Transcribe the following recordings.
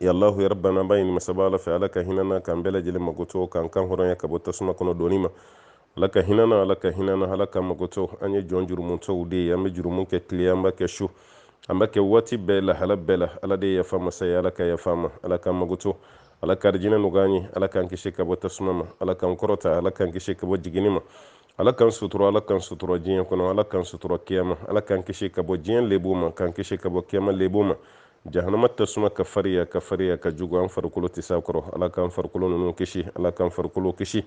ya allahu ya rabbana an b'a ɲini masaba ala fɛ ala ka hinɛ an na k'an bɛɛ lajɛlen magoto k'an kan hɔrɔnya ka bɔ tasuma kɔnɔ donni ma ala ka hinɛ an na ala ka hinɛ an na ala k'an magoto an ye jɔn jurumutɔw de ye an bɛ jurumu kɛ tile an b'a kɛ su an b'a kɛ waati bɛɛ lahala bɛɛ la ala de ye yafa masa ye ala ka yafa an ma ala k'an magoto ala ka arijinɛ nɔgɔya an ye ala k'an kisi ka bɔ tasuma ma ala k'an kɔrɔta ala k'an kisi ka bɔ jiginni ma ala k'an sutura ala k'an sutura diɲɛ kɔnɔ ala k'an sutura kiyama ala k'an kisi ka bɔ diɲɛ lebu ma k'an kisi ka bɔ kiyama lebu ma jahanama tasuma ka fariya ka fariya ka jugu an farikolo tɛ s'a kɔrɔ ala k'an farikolo ninnu kisi ala k'an farikolo kisi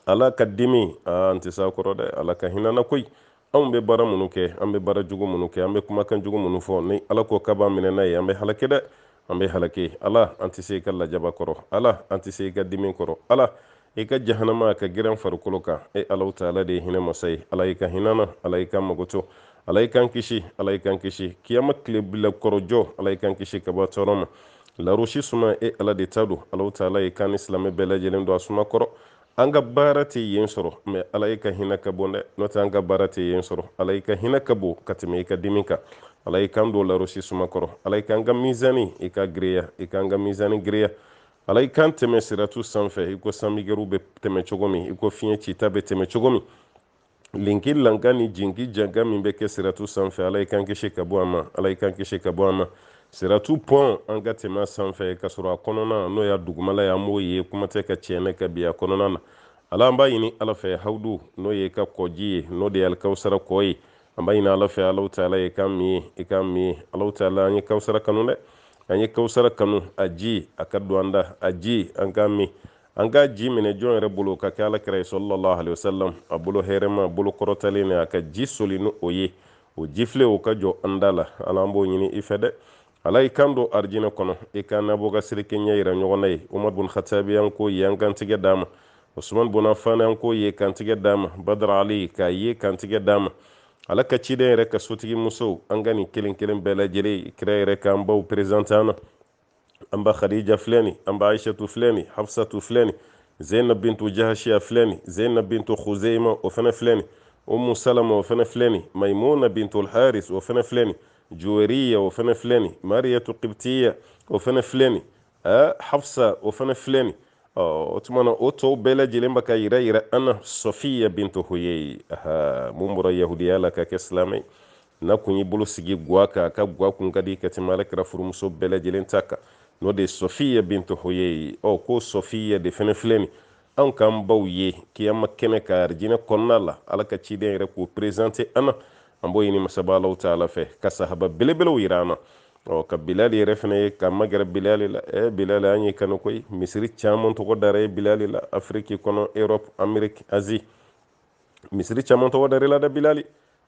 ala ka dimi an tɛ s'a kɔrɔ dɛ ala ka hinɛ an na koyi anw bɛ baara minnu kɛ an bɛ baara jugu minnu kɛ an bɛ kumakan jugu minnu fɔ ni ala ko k'a b'an minɛ n'a ye an bɛ halake dɛ an bɛ halake ala an tɛ se i ka lajaba kɔrɔ ala an tɛ se i ka dimi kɔrɔ ala i ka jahanama ka girin an farikolo kan e allahu taala de ye hinɛ masa ye ala i ka hinɛ an na ala i k'an magoto ala i k'an kisi ala i k'an kisi kiyama tile bila kɔrɔ jɔ ala i k'an kisi ka bɔ a tɔɔrɔ ma larosi suma e ala de ta don allahu taala i k'an ni silamɛ bɛɛ lajɛlen don a suma kɔrɔ an ka baara tɛ yen sɔrɔ mɛ ala i ka hinɛ ka bon dɛ n'o tɛ an ka baara tɛ yen sɔrɔ ala i ka hinɛ ka bon ka tɛmɛ i ka dimi kan ala i k'an don larosi suma kɔrɔ ala i ka an ka mizani i ka giriya i ka an ka mizani giriya ala i k'an tɛmɛ siratu sanfɛ i ko sanmɛgɛru bɛ tɛmɛ cogo min i ko fiɲɛ cita bɛ tɛmɛ cogo min linki lanka ni jinki janka min bɛ kɛ siratu sanfɛ ala i k'an kisi ka bɔ a ma ala i k'an kisi ka bɔ a ma siratu pɔn an ka tɛmɛ a sanfɛ ka sɔrɔ a kɔnɔna n'o y'a dugumala ye an m'o ye kuma tɛ ka tɛnɛnɛ ka bin a kɔnɔna na ala an b'a ɲini ala fɛ hawudu n'o y'e ka kɔji ye n'o de ye alikawusara kɔ ye an b'a ɲini ala fɛ allahu taala i k'an min yen i k'an min yen allahu taala an ye kawusara kanu dɛ an ye kawusara kanu a ji a ka don an da a ji an k'a min an k'a ji minɛ jɔn yɛrɛ bolo ka kɛ ala kira ye sallallahu alayhi wa sallam a bolo hɛrɛma a bolo kɔrɔtalen nin a ka ji soli ni o ye o jifilen o ka jɔ an da la ala an b'o ɲini i fɛ dɛ ala i k'an don arijinɛ kɔnɔ i k'an n'abubakar sidiki ɲɛ yira ɲɔgɔn na yen umar bun khatabi an k'o ye an k'an tɛgɛ d'a ma usman bun afan an k'o ye k'an tɛgɛ d'a ma badara ali k'a ye k'an tɛgɛ d'a ma ala ka ciden yɛrɛ ka sotigi musow an ka nin kelen kelen bɛɛ lajɛlen kira yɛrɛ k'an baw perezante an na an ba khadija filɛ nin an ba aishatu filɛ nin hafsatu filɛ nin zainab bintu jahashiya filɛ nin zainab bintu khuzeima o fɛnɛ filɛ nin umu salama o fɛnɛ filɛ nin maimuna bintu alharis o fɛnɛ filɛ nin juweriya o fɛnɛ filɛ nin mariyatu kibitiya o fɛnɛ filɛ nin ɛ hafsa o fɛnɛ filɛ nin o tuma na o tɔw bɛɛ lajɛlen bɛ ka yira yira an na sɔfiya bintu huyei mun bɔra yahudiya la ka kɛ silamɛ n'a kun y'i bolo sigi gwa kan a ka gwa kun ka di ka tɛmɛ ala kira furumuso bɛɛ lajɛlen ta kan n'o de ye sɔfiya bintu huyei ɔ ko sɔfiya de fɛnɛ filɛ nin anw k'an baw ye kiyama kɛnɛ kan arijinɛ kɔnɔna la ala ka ciden yɛrɛ k'o perezante an na an b'o ɲini masaba alaw taala fɛ ka sahaba belebelew yira an na ɔ ka bilali yɛrɛ fana ye ka magɛrɛ bilali la ɛ bilali an y'e kanu koyi misiri caman tɔgɔ dara e bilali la afiriki kɔnɔ erɔpu ameriki azi misiri caman tɔgɔ dara i la dɛ bilali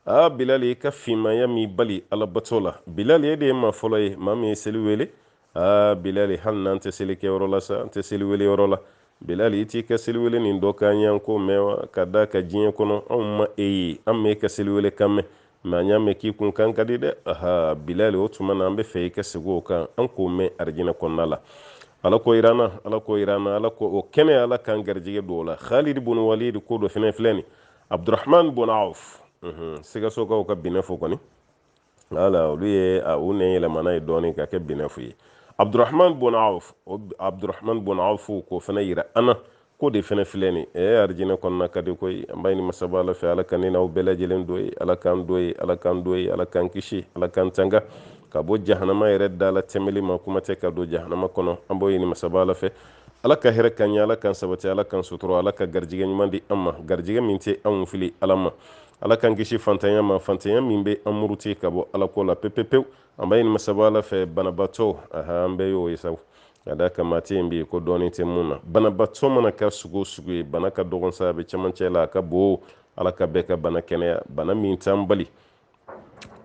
aa bilali i ka finmaya m'i bali ala bato la bilali e de ye maa fɔlɔ ye maa min ye seli wele aa bilali hali n'an tɛ seli kɛ yɔrɔ la sa an tɛ seli wele yɔrɔ la bilali i t'i ka seli wele nin dɔ k'an y'an k'o mɛn wa ka d'a kan diɲɛ kɔnɔ anw ma e ye an m'e ka seli wele kan mɛn mɛ an y'a mɛn k'i kun kan ka di dɛ aha bilali o tuma na an b'a fɛ i ka segin o kan an k'o mɛn arijinɛ kɔnɔna la ala k'o yira an na ala k'o yira an na ala k'o k'an ye ala k'an garijɛgɛ don o la khalid bun walid ko dɔ fɛnɛ filɛ nin abdurahman bun auf sikasokaw ka binɛfu kɔni wala olu ye u nɛn yɛlɛma n'a ye dɔɔnin k'a kɛ binɛfu ye abdurahman bun auf o abdurahman bun auf k'o fana yira an na k'o de fana filɛ nin ɛ eh, arijinɛ kɔnɔna ka di koyi an b'a ɲini masaba ala fɛ ala ka ne n'aw bɛɛ lajɛlen don yen ala k'an don yen ala k'an don yen ala k'an kisi ala k'an tanga ka bɔ jahanama yɛrɛ da la tɛmɛli ma kuma tɛ ka don jahanama kɔnɔ an b'o ɲini masaba ala fɛ ala ka hɛrɛ k'an ye ala k'an sabati ala k'an sutura ala ka garijɛgɛ ɲuman di an ma garijɛgɛ min tɛ anw fili ala ma ala k'an kisi fantanya ma fantanya min bɛ an muruti ka bɔ ala ko la pepepewu an b'a ɲini masaba ala fɛ banabaatɔ aha an bɛɛ y'o ye sabu ka d'a kan maa tɛ yen bi ko dɔɔni tɛ min na banabaatɔ mana kɛ sugu o sugu ye bana ka dɔgɔn sa a bɛ cɛmancɛ la a ka bon ala ka bɛɛ ka bana kɛnɛya bana min t'an bali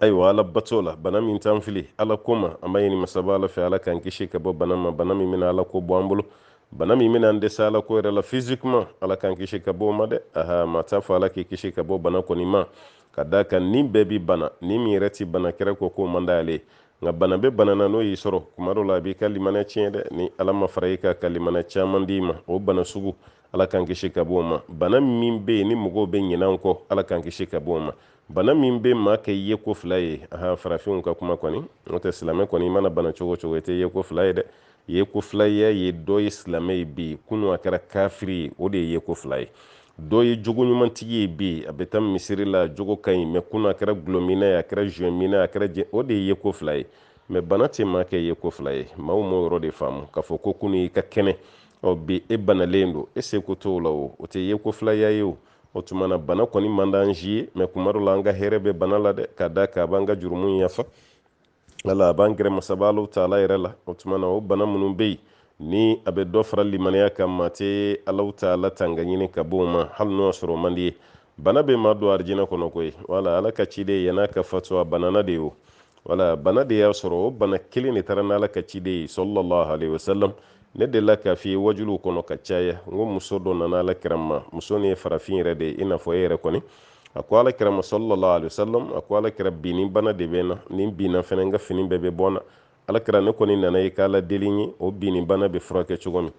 ayiwa ala bato la bana min t'an fili ala ko ma an b'a ɲini masaba ala fɛ ala k'an kisi ka bɔ bana ma bana min bɛna ala ko bɔ an bolo bana min bɛna an dɛsɛ ala ko yɛrɛ la physiquement ala k'an kisi ka bɔ o ma dɛ aha maa t'a fɔ ala k'i kisi ka bɔ bana kɔni ma ka d'a kan ni bɛɛ bi bana ni min yɛrɛ ti bana kira ko k'o man d'ale nka bana bɛ bana na n'o y'i sɔrɔ kuma dɔ la a b'i ka limaniya tiɲɛ dɛ ni ala ma fara i kan ka limaniya caman d'i ma o bana sugu ala k'an kisi ka bɔ o ma bana min bɛ yen ni mɔgɔw bɛ ɲinɛ kɔ ala k'an kisi ka bɔ o ma bana min bɛ maa kɛ yeko fila ye aha farafinw ka kuma kɔni n'o tɛ silamɛ kɔni i mana bana cogo cogo i tɛ yeko fila ye dɛ yeko filaya ye dɔ ye silamɛ ye bi kunu a kɛra kafiri ye o de ye yeko fila ye dɔ ye jogo ɲumantigi ye bi a bɛ taa misiri la jogo ka ɲi mɛ kunu a kɛra gulɔmina ye a kɛra zuwɛmina a kɛra jɛ o de ye yeko fila ye mɛ bana tɛ maa kɛ yeko fila ye maaw m'o yɔrɔ de faamu k'a fɔ ko kunu i ka kɛnɛ ɔ bi e banalen don e seko t'o la o o tɛ yeko filaya ye o o tuma na bana kɔni man d'an si ye mɛ kuma dɔ la an ka hɛrɛ bɛ bana la dɛ ka d'a kan a b'an ka jurumu yafa ala a b'an gɛrɛ masaba alaw taala yɛrɛ la o tuma na o bana minnu bɛ yen ni a bɛ dɔ fara limaniya kan maa tɛ alaw taala tanga ɲini ka bɔ o ma hali n'o y'a sɔrɔ o man d'i ye bana bɛ maa don arijinɛ kɔnɔ koyi wala ala ka ciden yann'a ka fatu a banana de ye o wala bana de y'a sɔrɔ o bana kelen de taara n'ala ka ciden ye salalahu alehi wasalam ne delila k'a f'i ye wajuliw kɔnɔ k'a caya n ko muso dɔ nana ala kira ma muso nin ye farafin yɛrɛ de ye i n'a fɔ e yɛrɛ kɔni a ko ala kira ma sallallahu alaihi wasallam a ko ala kira binni bana de bɛ n na ni n binna fɛnɛ n ka fini bɛɛ bɛ bɔ n na ala kira ne kɔni nana i k'ala deli n ye o binni bana bɛ furakɛ cogo min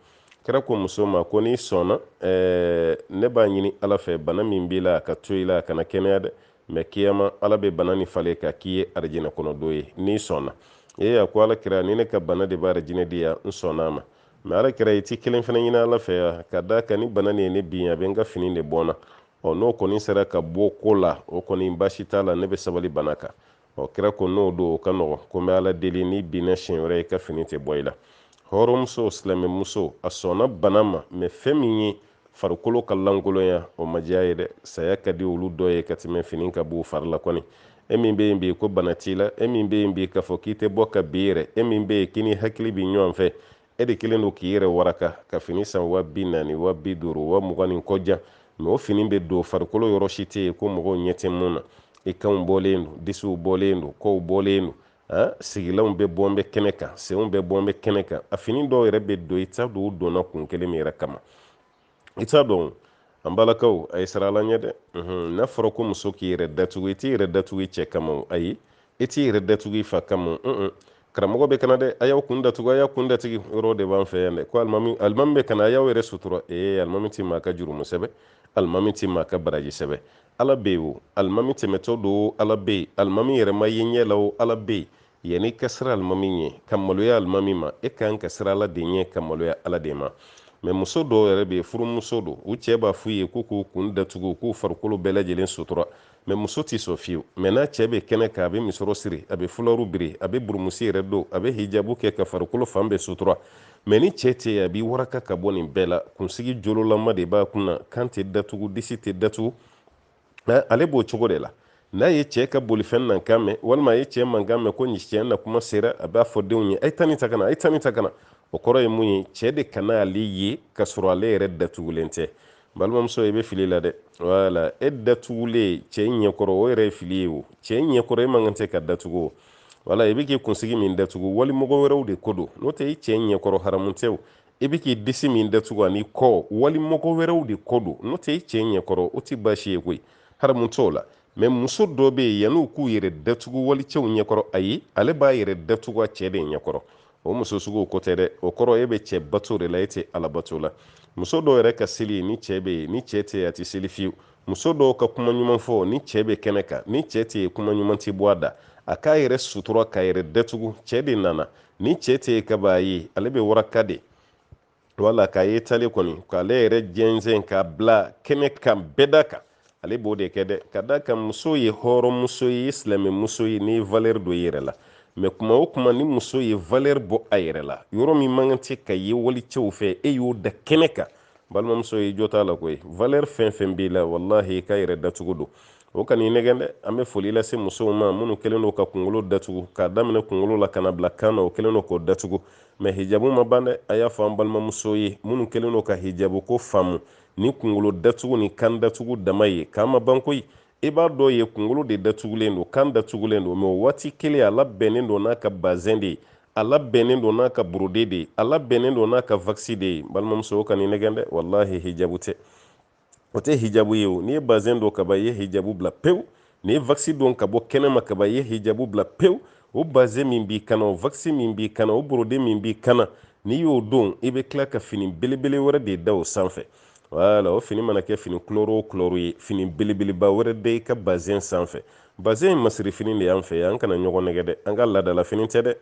kira ko muso ma ko n'i sɔnna ɛɛ ne b'a ɲini ala fɛ bana min b'i la a ka to i la a kana kɛnɛya dɛ mɛ kiyama ala bɛ bana nin falen ka k'i ye arijinɛ kɔnɔ don ye n'i sɔnna ee a ko ala kira ni ne ka bana de b'arijinɛ di yan n sɔnna a ma mɛ ala kira i ti kelen fɛnɛ ɲini ala fɛ n ye ka da kan ni bana nin ye ne bin a bɛ n ka fini de bɔ n na ɔ n'o kɔni sera ka bɔ ko la o kɔni baasi t'a la ne bɛ sabali bana kan ɔ kira ko n'o don o ka nɔgɔn ko n bɛ ala deli n'i binna siɲɛ wɛrɛ i ka fini tɛ bɔ i la hɔrɔnmuso silamɛmuso a sɔnna bana ma mɛ fɛn min ye farikolo ka lankolonya o ma diya a ye dɛ saya ka di olu dɔ ye ka tɛmɛ fini ka b'u fari la kɔni e min bɛ yen bi ko bana t'i la e min bɛ yen bi k'a fɔ k'i tɛ bɔ ka bin yɛrɛ e min bɛ yen k'i ni hakili bɛ ɲɔgɔn fɛ e de kelen don k'i yɛrɛ waraka ka fini san wa bi naani wa bi duuru wa mugan ni kɔjan mɛ o fini bɛ don farikolo yɔrɔ si tɛ yen ko mɔgɔw ɲɛ tɛ min na i kanw bɔlen don disiw bɔlen don kɔw bɔlen don ah, sigilanw bɛɛ bɔn bɛ kɛnɛ kan senw bɛɛ bɔn bɛ kɛnɛ kan a fini dɔw yɛrɛ bɛ don i t'a dɔn u donna kun kelen min yɛrɛ kama i t'a dɔn an balakaw a ye siran ala ɲɛ dɛ n'a fɔra ko muso k'i yɛrɛ datugu i t'i yɛrɛ datugu i cɛ kama ayi i t'i yɛrɛ datugu i fa kama karamɔgɔ bɛ ka na dɛ a y'aw kun datugu a y'aw kun datugu yɔrɔ de b'an fɛ yan dɛ ko alimami alimami bɛ ka na a y'aw yɛrɛ sutura ee alimami tɛ maa ka jurumu sɛbɛ alimami tɛ maa ka baraji sɛbɛ ala bɛ yen o alimami tɛmɛtɔ don ala bɛ yen alimami yɛrɛ ma ye ɲɛ la o ala bɛ yen yanni ka siran alimami ɲɛ ka maloya alimami ma e kan ka siran ala de ɲɛ ka maloya ala de ma mɛ muso dɔw yɛrɛ bɛ yen furumuso don u cɛ b'a f'u ye k'u k'u kun datugu k'u farikolo bɛɛ lajɛlen sutura mɛ muso tɛ sɔn fiyewu mɛ n'a cɛ bɛ kɛnɛ kan a bɛ misɔrɔ siri a bɛ fularu biri a bɛ burumusi yɛrɛ don a bɛ hijabu kɛ ka farikolo fan bɛɛ sutura mɛ ni cɛ tɛ a b'i waraka ka bɔ nin bɛɛ la kunsigi jololama de b'a kun na kan tɛ datugu disi tɛ datugu ale b'o cogo de la n'a ye cɛ ka bolifɛn nakan mɛn walima a ye cɛ mankan mɛn ko ni cɛ na kuma sera a b'a fɔ denw ye a ye taa nin ta ka na a ye taa nin ta ka na o kɔrɔ ye mun ye cɛ de kana ale ye ka sɔrɔ ale yɛrɛ datugulen tɛ balimamuso i bɛ fili la dɛ wala e datugulen cɛ ɲɛkɔrɔ o yɛrɛ ye fili ye o cɛ ɲɛkɔrɔ e man kan tɛ ka datugu o wala i bɛ k'i kunsigi min datugu walimɔgɔ wɛrɛw de ko don n'o tɛ i cɛ ɲɛkɔrɔ haramu tɛ o i bɛ k'i disi min datugu ani i kɔ walimɔgɔ wɛrɛw de ko don n'o tɛ i cɛ ɲɛkɔrɔ o tɛ baasi ye koyi haramu t'o la mɛ muso dɔw bɛ yen yan'u k'u yɛrɛ datugu walicɛw ɲɛkɔrɔ ayi ale b'a yɛrɛ datugu a cɛ de ɲɛkɔrɔ o muso sugu ko tɛ dɛ o kɔrɔ e bɛ cɛ bato de la e tɛ ala bato la muso dɔw yɛrɛ ka seli ye ni cɛ bɛ yen ni cɛ tɛ a tɛ seli fiyewu muso dɔw ka kuma ɲuman fɔ ni cɛɛ be kɛnɛ kan ni cɛɛ tɛ yen kuma ɲuman tɛ bɔ a da a k'a yɛrɛ sutura k'a yɛrɛ datugu cɛɛ de nana ni cɛɛ tɛ yen ka b'a ye ale be waraka de wala k'a ye tale kɔni k'ale yɛrɛ jɛnsɛn k'a bila kɛnɛ kan bɛɛ da kan ale b'o de kɛ dɛ k'a d'a kan muso ye hɔrɔnmuso ye silamɛmuso ye n'i ye valɛri don i yɛrɛ la mɛ kuma o kuma ni muso ye valɛri bɔ a yɛrɛ la yɔrɔ min man kan tɛ ka ye walicɛw fɛ e y'o da kɛnɛ kan balimamuso i jo t'a la koyi valeur fɛn fɛn b'i la walahi i ka yɛrɛ datugu don o kan'i nɛgɛn dɛ an bɛ foli lase musow ma minnu kɛlen don ka kunkolo datugu k'a daminɛ kunkolo la ka na bila kan na o kɛlen don k'o datugu mɛ hijabu ma ban dɛ a y'a fɔ an balimamusow ye minnu kɛlen don ka hijabu ko faamu ni kunkolo datugu ni kan datugu dama ye k'a ma ban koyi i bɛ dɔ ye kunkolo de datugulen don kan datugulen don mɛ o waati kelen a labɛnnen don n'a ka bazɛn de ye a labɛnnen don n'a ka borode de ye a labɛnnen don n'a ka vakisi de ye balimamuso o kan'i nɛgɛn dɛ walahi hijabu tɛ o tɛ hijabu ye o n'i ye bazɛn don kaba i ye hijabu bila pewu n'i ye vakisi don ka bɔ kɛnɛma kaba i ye hijabu bila pewu o bazɛn min b'i kan na o vakisi min b'i kan na o borode min b'i kan na n'i y'o don i bɛ tila ka fini belebele wɛrɛ de da o sanfɛ wala o fini mana kɛ fini kulɔro o kulɔro ye fini belebeleba wɛrɛ da i ka bazɛn sanfɛ bazɛn ye masirifini de y'an fɛ yan an kana ɲɔgɔn nɛgɛn dɛ an ka laadalafini tɛ dɛ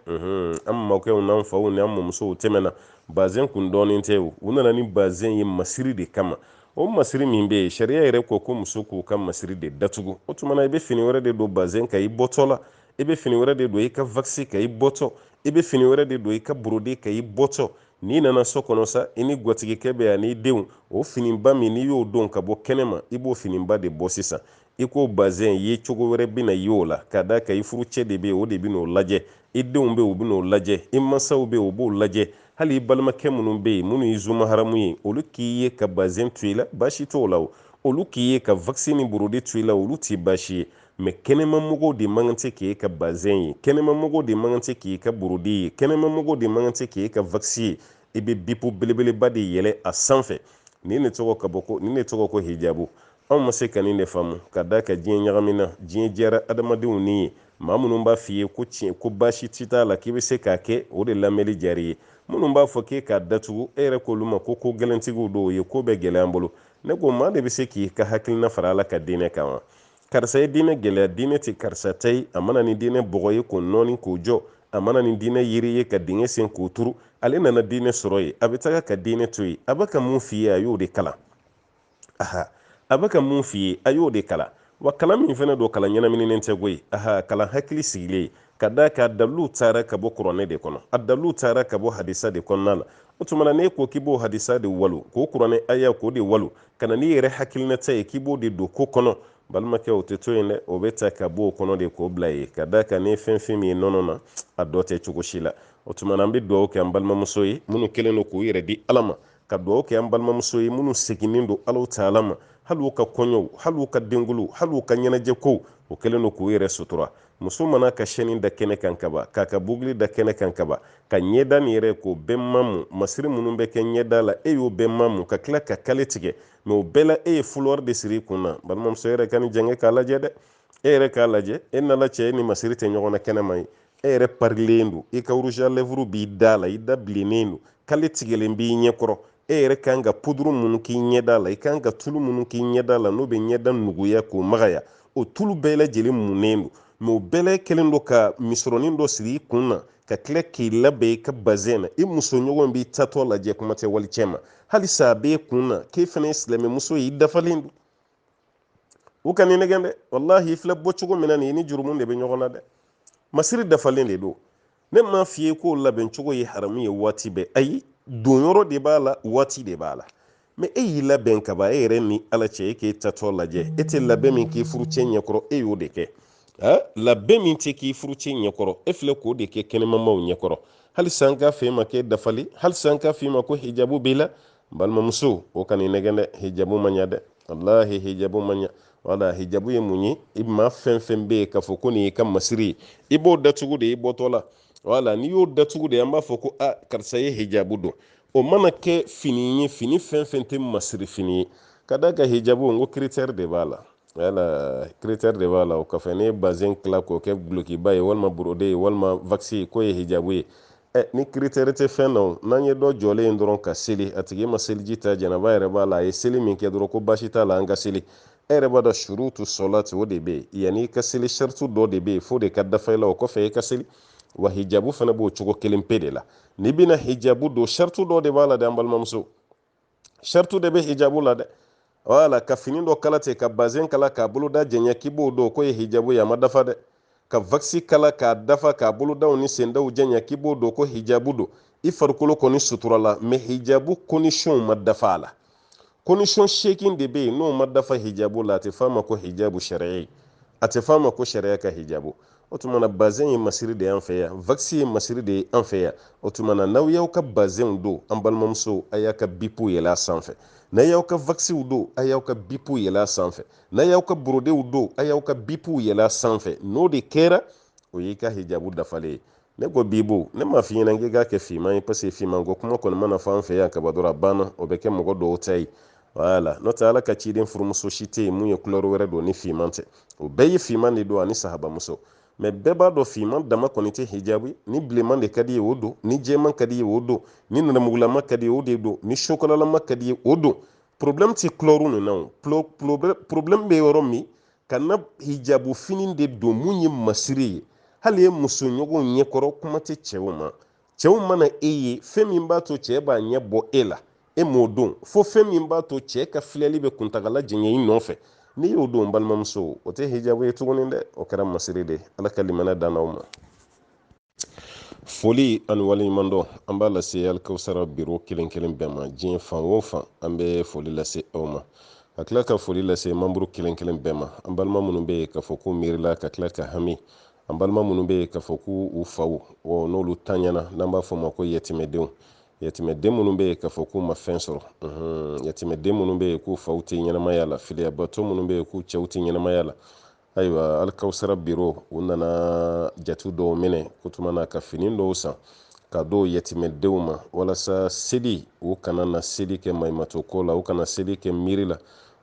an mɔkɛw n'an faw ni an mɔmusow tɛmɛna bazɛn kun dɔnnen tɛ u nana ni bazɛn ye masiri de kama o masiri min bɛ yen sariya yɛrɛ ko ko musow k'u ka masiri de datugu o tuma na i bɛ fini wɛrɛ de don bazɛn kan i bɔtɔ la i bɛ fini wɛrɛ de don i ka vakisi kan i bɔtɔ i bɛ fini wɛrɛ de don i ka borode kan i bɔtɔ n'i nana so kɔnɔ sa i ni gwatigikɛ bɛ yan n'i denw o finiba min n'i y'o don ka bɔ kɛnɛma i b'o finiba de bɔ sisan i k'o bazɛn ye cogo wɛrɛ bɛna ye o la k'a d'a kan i furucɛ de bɛ yen o de bɛn'o lajɛ i denw bɛ yen u bɛn'o lajɛ i mansaw bɛ yen u b'o lajɛ hali i balimakɛ minnu bɛ yen minnu ye zu maharamu ye olu k'i ye ka bazɛn to i la baasi t'o la o olu k'i ye ka vakisi ni borode to i la olu t'i baasi ye mɛ kɛnɛmamɔgɔw de man kan tɛ k'e ka bazɛn ye kɛnɛmamɔgɔw de man kan tɛ k'e ka borode ye kɛnɛmamɔgɔw de man kan tɛ k'e ka vakisi ye i bɛ bipu belebeleba de yɛlɛ a sanfɛ nin ne tɔgɔ ka bɔ ko nin ne tɔgɔ ko hijabu anw ma se ka nin de faamu k'a d'a kan diɲɛ ɲagamina diɲɛ diyara adamadenw ni ye maa minnu b'a f'i ye ko tiɲɛ ko baasi t'i t'a la k'i bɛ se k'a kɛ o de lamɛnli diyar'i ye minnu b'a fɔ k'e k'a datugu e yɛrɛ k'olu ma ko kogɛlɛntigiw don u ye ko bɛɛ gɛlɛya an bolo ne ko maa de bɛ se k'i ka hakilina fara ala ka diinɛ kan wa karisa ye diinɛ gɛlɛya diinɛ tɛ karisa ta ye a ma na ni diinɛ bɔgɔ ye k'o nɔɔni k'o jɔ a ma na ni diinɛ yiri ye ka dingɛ sen k'o turu ale nana diinɛ sɔrɔ yen a bɛ taga ka diinɛ to yen a bɛ ka mun f'i ye a y'o de kalan aha a bɛ ka min f'i ye a y'o de kalan wa kalan min fana don kalan ɲɛnamininen tɛ koyi aha kalan hakili sigilen ka da kan a dalilu taara ka bɔ kuranɛ de kɔnɔ a dalilu taara ka bɔ hadisa de kɔnɔna la o tuma na n'e ko k'i b'o hadisa de walon k'o kuranɛ aya k'o de walon ka na n'i yɛrɛ hakilinata ye k'i b'o de don ko kɔnɔ balimakɛ o tɛ to yen dɛ o bɛ ta ka bɔ o kɔnɔ de k'o bila yen ka da kan ni fɛn fɛn min ye nɔnɔ na a dɔ tɛ cogo si la o tuma na an bɛ dugawu kɛ an balimamuso ye minnu kɛlen don k'u yɛrɛ di ala ma ka dugawu kɛ an balimamuso ye minnu seginnen don ala taala ma hali u ka kɔɲɔw hali u ka denkuluw hali u ka ɲɛnajɛkow o kɛlen don k'u yɛrɛ sutura muso mana ka sɛni da kɛnɛ kan ka ban k'a ka bugili da kɛnɛ kan ka ban ka ɲɛda nin yɛrɛ k'o bɛɛ mamu masiri minnu bɛ kɛ ɲɛda la e y'o bɛɛ mamu ka tila ka kale tigɛ mɛ o bɛɛ la e ye fulɔri de siri i kun na balimamuso yɛrɛ ka nin jɛngɛ k'a lajɛ dɛ e yɛrɛ k'a lajɛ e n'ala cɛ e ni masiri tɛ ɲɔgɔn na kɛnɛma ye e yɛrɛ parilen don i ka rouge à lèvres b'i da la i da bilennen don kale tigɛlen b'i ɲɛ kɔrɔ e yɛrɛ ka kan ka puduru minnu k'i ɲɛda la i ka kan ka tulu minnu k'i ɲɛda la n'o bɛ ɲɛda nuguya k'o magaya o tulu bɛɛ lajɛlen munnen don mɛ o bɛɛ la kɛlen don ka misɔrɔnin dɔ siri i kun na ka tila k'i labɛn i ka bazɛn na i musoɲɔgɔn b'i taatɔ lajɛ kuma tɛ walicɛ ma halisa a b'e kun na k'e fana ye silamɛmuso ye i dafalen don u kan'i nɛgɛn dɛ walahi i filɛ bɔ cogo min na nin i ni jurumu de bɛ ɲɔgɔn na dɛ masiri dafalen de don ne m'a f'i ye k'o labɛn cogo ye haramu ye waati bɛɛ ayi donyɔrɔ de b'a la waati de b'a la mɛ e y'i labɛn ka ban e yɛrɛ ni ala cɛ e k'e taatɔ lajɛ e tɛ labɛn min k'i furucɛ ɲɛkɔrɔ e y'o de kɛ labɛn min tɛ k'i furucɛ ɲɛkɔrɔ e filɛ k'o de kɛ kɛnɛmamaw ɲɛkɔrɔ halisa an k'a f'e ma k'e dafalen halisa an k'a f'e ma ko hijabu b'i la balimamuso o kana i nɛgɛn dɛ hijabu man ɲa dɛ walahi hijabu man ɲa wala hijabu ye mun ye i ma fɛn fɛn bɛ yen k'a fɔ ko nin y'i ka masiri ye i b'o datugu de i bɔtɔ la wala n'i y'o datugu de an b'a fɔ ko a karisa ye hijabu don o mana kɛ fini ye fini fɛn fɛn tɛ masiri fini ye ka da kan hijabu n ko critère de b'a la wala critère de b'a la o kɔfɛ n'i ye bazin tila k'o kɛ gulokiba ye walima borode ye walima vakisi ye k'o ye hijabu ye ɛ ni critère tɛ fɛn na n'an ye dɔ jɔlen ye dɔrɔn ka seli a tigi ma seliji ta janaba yɛrɛ b'a la a ye seli min kɛ dɔrɔn ko baasi t'a la an ka seli e yɛrɛ b'a dɔn surutu sɔlati o de bɛ yen yanni i ka seli saritu dɔ de bɛ yen f'o de ka dafa i la o kɔfɛ i ka seli wa hijabu fana b'o cogo kelen pe de la n'i bɛna hijabu don saritu dɔ de b'a la dɛ an balimamuso shartu de bɛ hijabu la dɛ wala ka fini dɔ kala ten ka bazɛn kala k'a boloda janya k'i b'o don k'o ye hijabu ye a ma dafa dɛ ka vakisi kala k'a dafa k'a bolodaw ni sendaw janya k'i b'o don ko hijabu don i farikolo kɔni suturala mɛ hijabu kondisiyɔnw ma dafa a la kondisiyɔn seegin de bɛ yen n'o ma dafa hijabu la a tɛ f'a ma ko hijabu sariya ye a tɛ f'a ma ko sariya ka hijabu o tuma na bazɛn ye masiri de y'an fɛ yan vakisi ye masiri de ye an fɛ yan o tuma na n'aw y'aw ka bazɛnw don an balimamusow a y'a ka bipu yɛlɛ sanfɛ n'a y'aw ka vakisiw don a y'aw ka bipu yɛlɛ sanfɛ n'a y'aw ka borodew don a y'aw ka bipu yɛlɛ sanfɛ n'o de kɛra o y'i ka hijabu dafalen ye ne ko bibu ne m'a f'i ɲɛna k'i k'a kɛ finman ye paseke finman ko kuma kɔni mana fɔ an fɛ yan ka ban dɔrɔn a banna o bɛ kɛ mɔgɔ dɔw ta ye wala n'o tɛ ala ka ciden furumuso si tɛ yen mun ye kulɛri wɛrɛ don ni finman tɛ o bɛɛ ye finman de don ani sahabamuso mɛ bɛɛ b'a dɔn finman dama kɔni tɛ hijabu ni bilenman de ka d'i ye o don ni jɛman ka d'i ye o don ni nɛrɛmugulama ka d'i ye o de don ni sokolalama ka d'i ye o don problème tɛ kulɛriw ninnu na o problème bɛ yɔrɔ min kana hijabu fini de don mun ye masiri ye hali i musoɲɔgɔnw ɲɛkɔrɔ kuma tɛ cɛw ma cɛw mana e ye fɛn min b'a to cɛɛ b'a ɲɛ bɔ e la e m'o don fo fɛn min b'a to cɛɛ ka filɛli bɛ kuntagala janya i nɔfɛ n'i y'o don balimamuso o tɛ hijabu ye tuguni dɛ o kɛra masiri de ala ka limaniya d'an ma foli ani waleɲumandɔn an b'a lase alikawusara biro kelen kelen bɛɛ ma diɲɛ fan o fan an bɛ foli lase aw ma ka tila ka foli lase mamuru kelen kelen bɛɛ ma an balima minnu bɛ yen k'a fɔ k'u miirila ka tila ka hami an balima minnu bɛ yen k'a fɔ k'u u faw n'olu tanyana n'an b'a f'u ma ko yatimɛdenw yatimɛden minnu bɛ yen k'a fɔ k'u ma fɛn sɔrɔ yatimɛden minnu bɛ yen k'u faw tɛ ɲɛnamaya la filiyabatɔ minnu bɛ yen k'u cɛw tɛ ɲɛnamaya la ayiwa alikawusara biro u nana jate dɔw minɛ k'o tuma na ka fini dɔw san k'a d'o yatimɛdenw ma walasa seli u kana na seli kɛ maɲumatɔ ko la u kana seli kɛ miiri la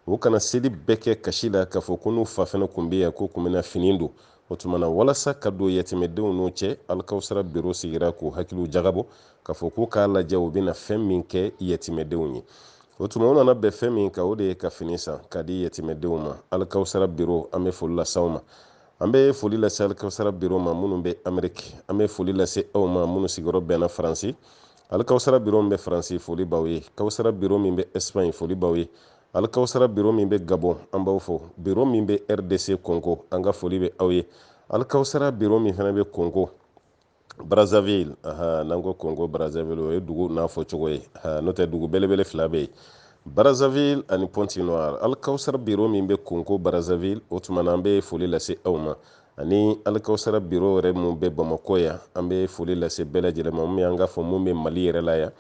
u kana seli bɛɛ kɛ kasi la k'a fɔ ko n'u fa fɛnɛ kun bɛ yan k'u kun bɛna fini don o tuma na walasa ka don yatimɛdenw n'o cɛ alikawusara biro sigira k'u hakiliw jagabɔ k'a fɔ k'u k'a lajɛ u bɛna fɛn min kɛ yatimɛdenw ye o tuma u nana bɛn fɛn min kan o de ye ka fini san k'a di yatimɛdenw ma alikawusara biro an bɛ foli lase aw ma an bɛ foli lase alikawusara biro ma minnu bɛ ameriki an bɛ foli lase aw ma minnu sigiyɔrɔ bɛnna faransi alikawusara biro min bɛ faransi foli b'aw ye kawusara biro min bɛ espagne foli b'aw ye alikawusara biro min bɛ gabon an b'aw fo biro min bɛ rdc congo an ka foli bɛ aw ye alikawusara biro min fana bɛ congo brazzaville n'an ko congo brazzaville o ye dugu n'a fɔ cogo ye n'o tɛ dugu belebele fila bɛ yen brazzaville ani pointe noire alikawusara biro min bɛ congo brazzaville o tuma na an bɛ foli lase aw ma ani alikawusara biro yɛrɛ mun bɛ bamakɔ yan an bɛ foli lase bɛɛ lajɛlen ma mun an k'a fɔ mun bɛ mali yɛrɛ la yan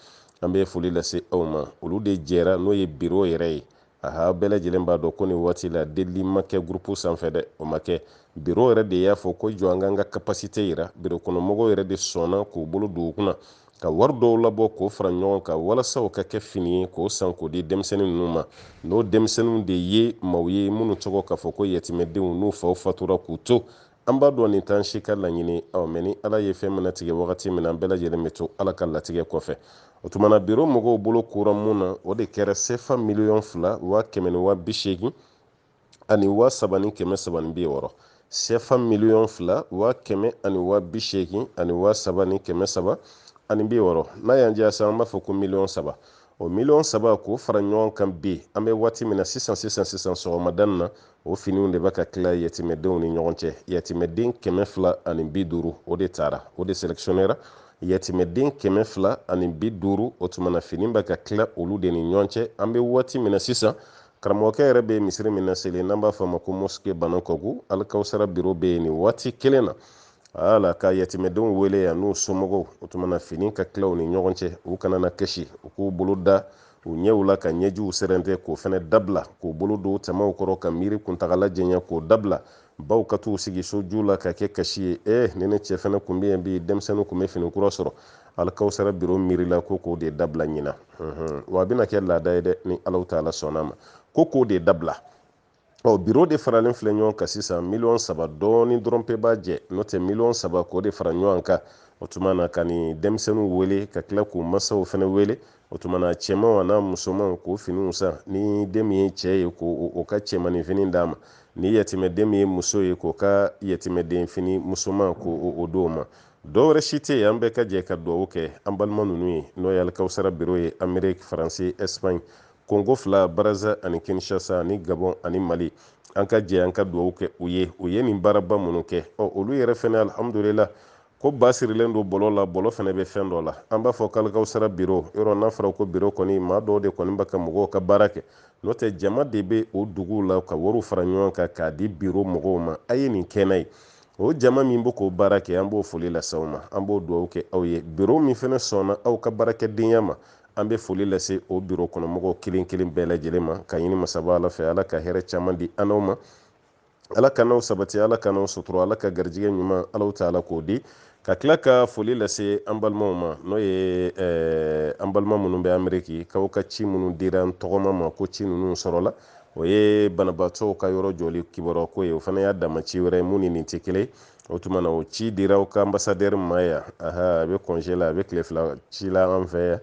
an bɛ foli lase aw ma olu de jɛra n'o ye biro yɛrɛ ye aha bɛɛ lajɛlen b'a dɔn ko nin waati la delili ma kɛ gurupu sanfɛ dɛ o ma kɛ biro yɛrɛ de y'a fɔ ko jɔ an k'an ka kapasite yira biro kɔnɔmɔgɔw yɛrɛ de sɔnna k'u bolo don u kunna ka wari dɔw labɔ k'o fara ɲɔgɔn kan walasa o ka kɛ fini ye k'o san k'o di denmisɛnnin ninnu ma n'o denmisɛnninw de ye maaw ye minnu tɔgɔ k'a fɔ ko yatimɛdenw n'u faw fatura k'u to an b'a dɔn nin t'an si ka laɲini ɔ mɛ ni ala ye fɛn min latigɛ wagati min na an bɛɛ lajɛlen bɛ to ala ka latigɛ kɔfɛ o tuma na biro mɔgɔw bolo kora mun na o de kɛra sefa miliyɔn fila waa kɛmɛ ni waa bi seegin ani wa saba ni kɛmɛ saba ni bi wɔɔrɔ sɛfa miliyɔn fila wa kɛmɛ ani wa bi seegin ani wa saba ni kɛmɛ saba ani bi wɔɔrɔ n'a y'an diya sisan an b'a fɔ ko miliyɔn saba o miliyɔn saba k'o fara ɲɔgɔn kan bi an bɛ waati min na sisan sisan sisan sɔgɔmada na o finiw de bɛ ka tila yatimɛdenw ni ɲɔgɔn cɛ yatimɛden kɛmɛ fila ani bi duuru o de tara o de selekisiyonera yatimɛden kɛmɛ fila ani bi duuru o tuma na fini bɛ ka tila olu de ni ɲɔgɔn cɛ an bɛ waati min na sisan karamɔgɔkɛ yɛrɛ bɛ misiri min laseli n'an b'a fɔ a ma ko mosike banankabugu alikawusara biro bɛ yen nin waati kelen na ka yatimɛdenw wele yan n'u somɔgɔw o tuma na fini ka tila u ni ɲɔgɔn cɛ u kana na kasi u k'u bolo da u ɲɛw la ka ɲɛjiw sɛrɛntɛ k'o fana dabila k'u bolo don tamaw kɔrɔ ka miiri kuntagala janya k'o dabila baw ka t'u sigi soju la ka kɛ kasi ye ee ni ne cɛ fana kun bɛ yen bi denmisɛnninw kun bɛ fini kura sɔrɔ alikawusara biro miirila ko k'o de dabila ɲina wa a bɛna kɛ laada ye dɛ ni alahu taala sɔnna ma ko k'o de dabila ɔ biro de faralen filɛ ɲɔgɔn kan sisan miliyɔn saba dɔɔni dɔrɔn pe b'a jɛ n'o tɛ miliyɔn saba k'o de fara ɲɔgɔn kan o tuma na ka nin denmisɛnninw wele ka tila k'u masaw fana wele o tuma na cɛmanw an'a musomanw k'o finiw san ni den min ye cɛ ye k'o o ka cɛmanin fini d'a ma ni yatimɛden min ye muso ye k'o ka yatimɛden fini musoman k'o o d'o ma dɔwɛrɛ si tɛ yen an bɛɛ ka jɛ ka dugawu kɛ an balima ninnu ye n'o ye alikawusara biro ye ameriki faransi ɛsipaɲi kongo fila baraza ani kinshasa ani gabɔn ani mali an ka jɛ an ka dugawu kɛ u ye u ye nin baaraba minnu kɛ ɔ olu yɛrɛ fɛnɛ alihamudulila ko ba sirilen don bɔlɔ la bɔlɔ fɛnɛ bɛ fɛn dɔ la an b'a fɔ k'alikawusara biro yɔrɔ n'a fɔra ko biro kɔni maa dɔw de kɔni bɛ ka mɔgɔw ka baara kɛ n'o tɛ jama de bɛ o duguw la ka wariw fara ɲɔgɔn kan k'a di biro mɔgɔw ma a ye nin kɛ ne ye o jama min bɛ k'o baara kɛ an b'o foli lase aw ma an b'o dugawu kɛ aw ye biro min fana sɔnna aw ka baarakɛdenya ma an bɛ foli lase o biro kɔnɔmɔgɔw kelen kelen bɛɛ lajɛlen ma ka ɲini masaba ala fɛ ala ka hɛrɛ caman di an n'aw ma ala k'an n'aw sabati ala k'an n'aw sutura ala ka garijɛgɛ ɲuman alahu taala k'o di ka tila ka foli lase an balimaw ma n'o ye eh, an balima minnu bɛ ameriki k'aw ka ci minnu dira n tɔgɔma ma ko ci ninnu sɔrɔla o ye banabaatɔw ka yɔrɔ jɔli kibaruya ko ye o fana y'a dama ci wɛrɛ ye mun ni nin tɛ kelen o tuma na o ci dira u ka anbasadɛri ma yan aha a bɛ kɔnze la a bɛ tile fila ci la an fɛ yan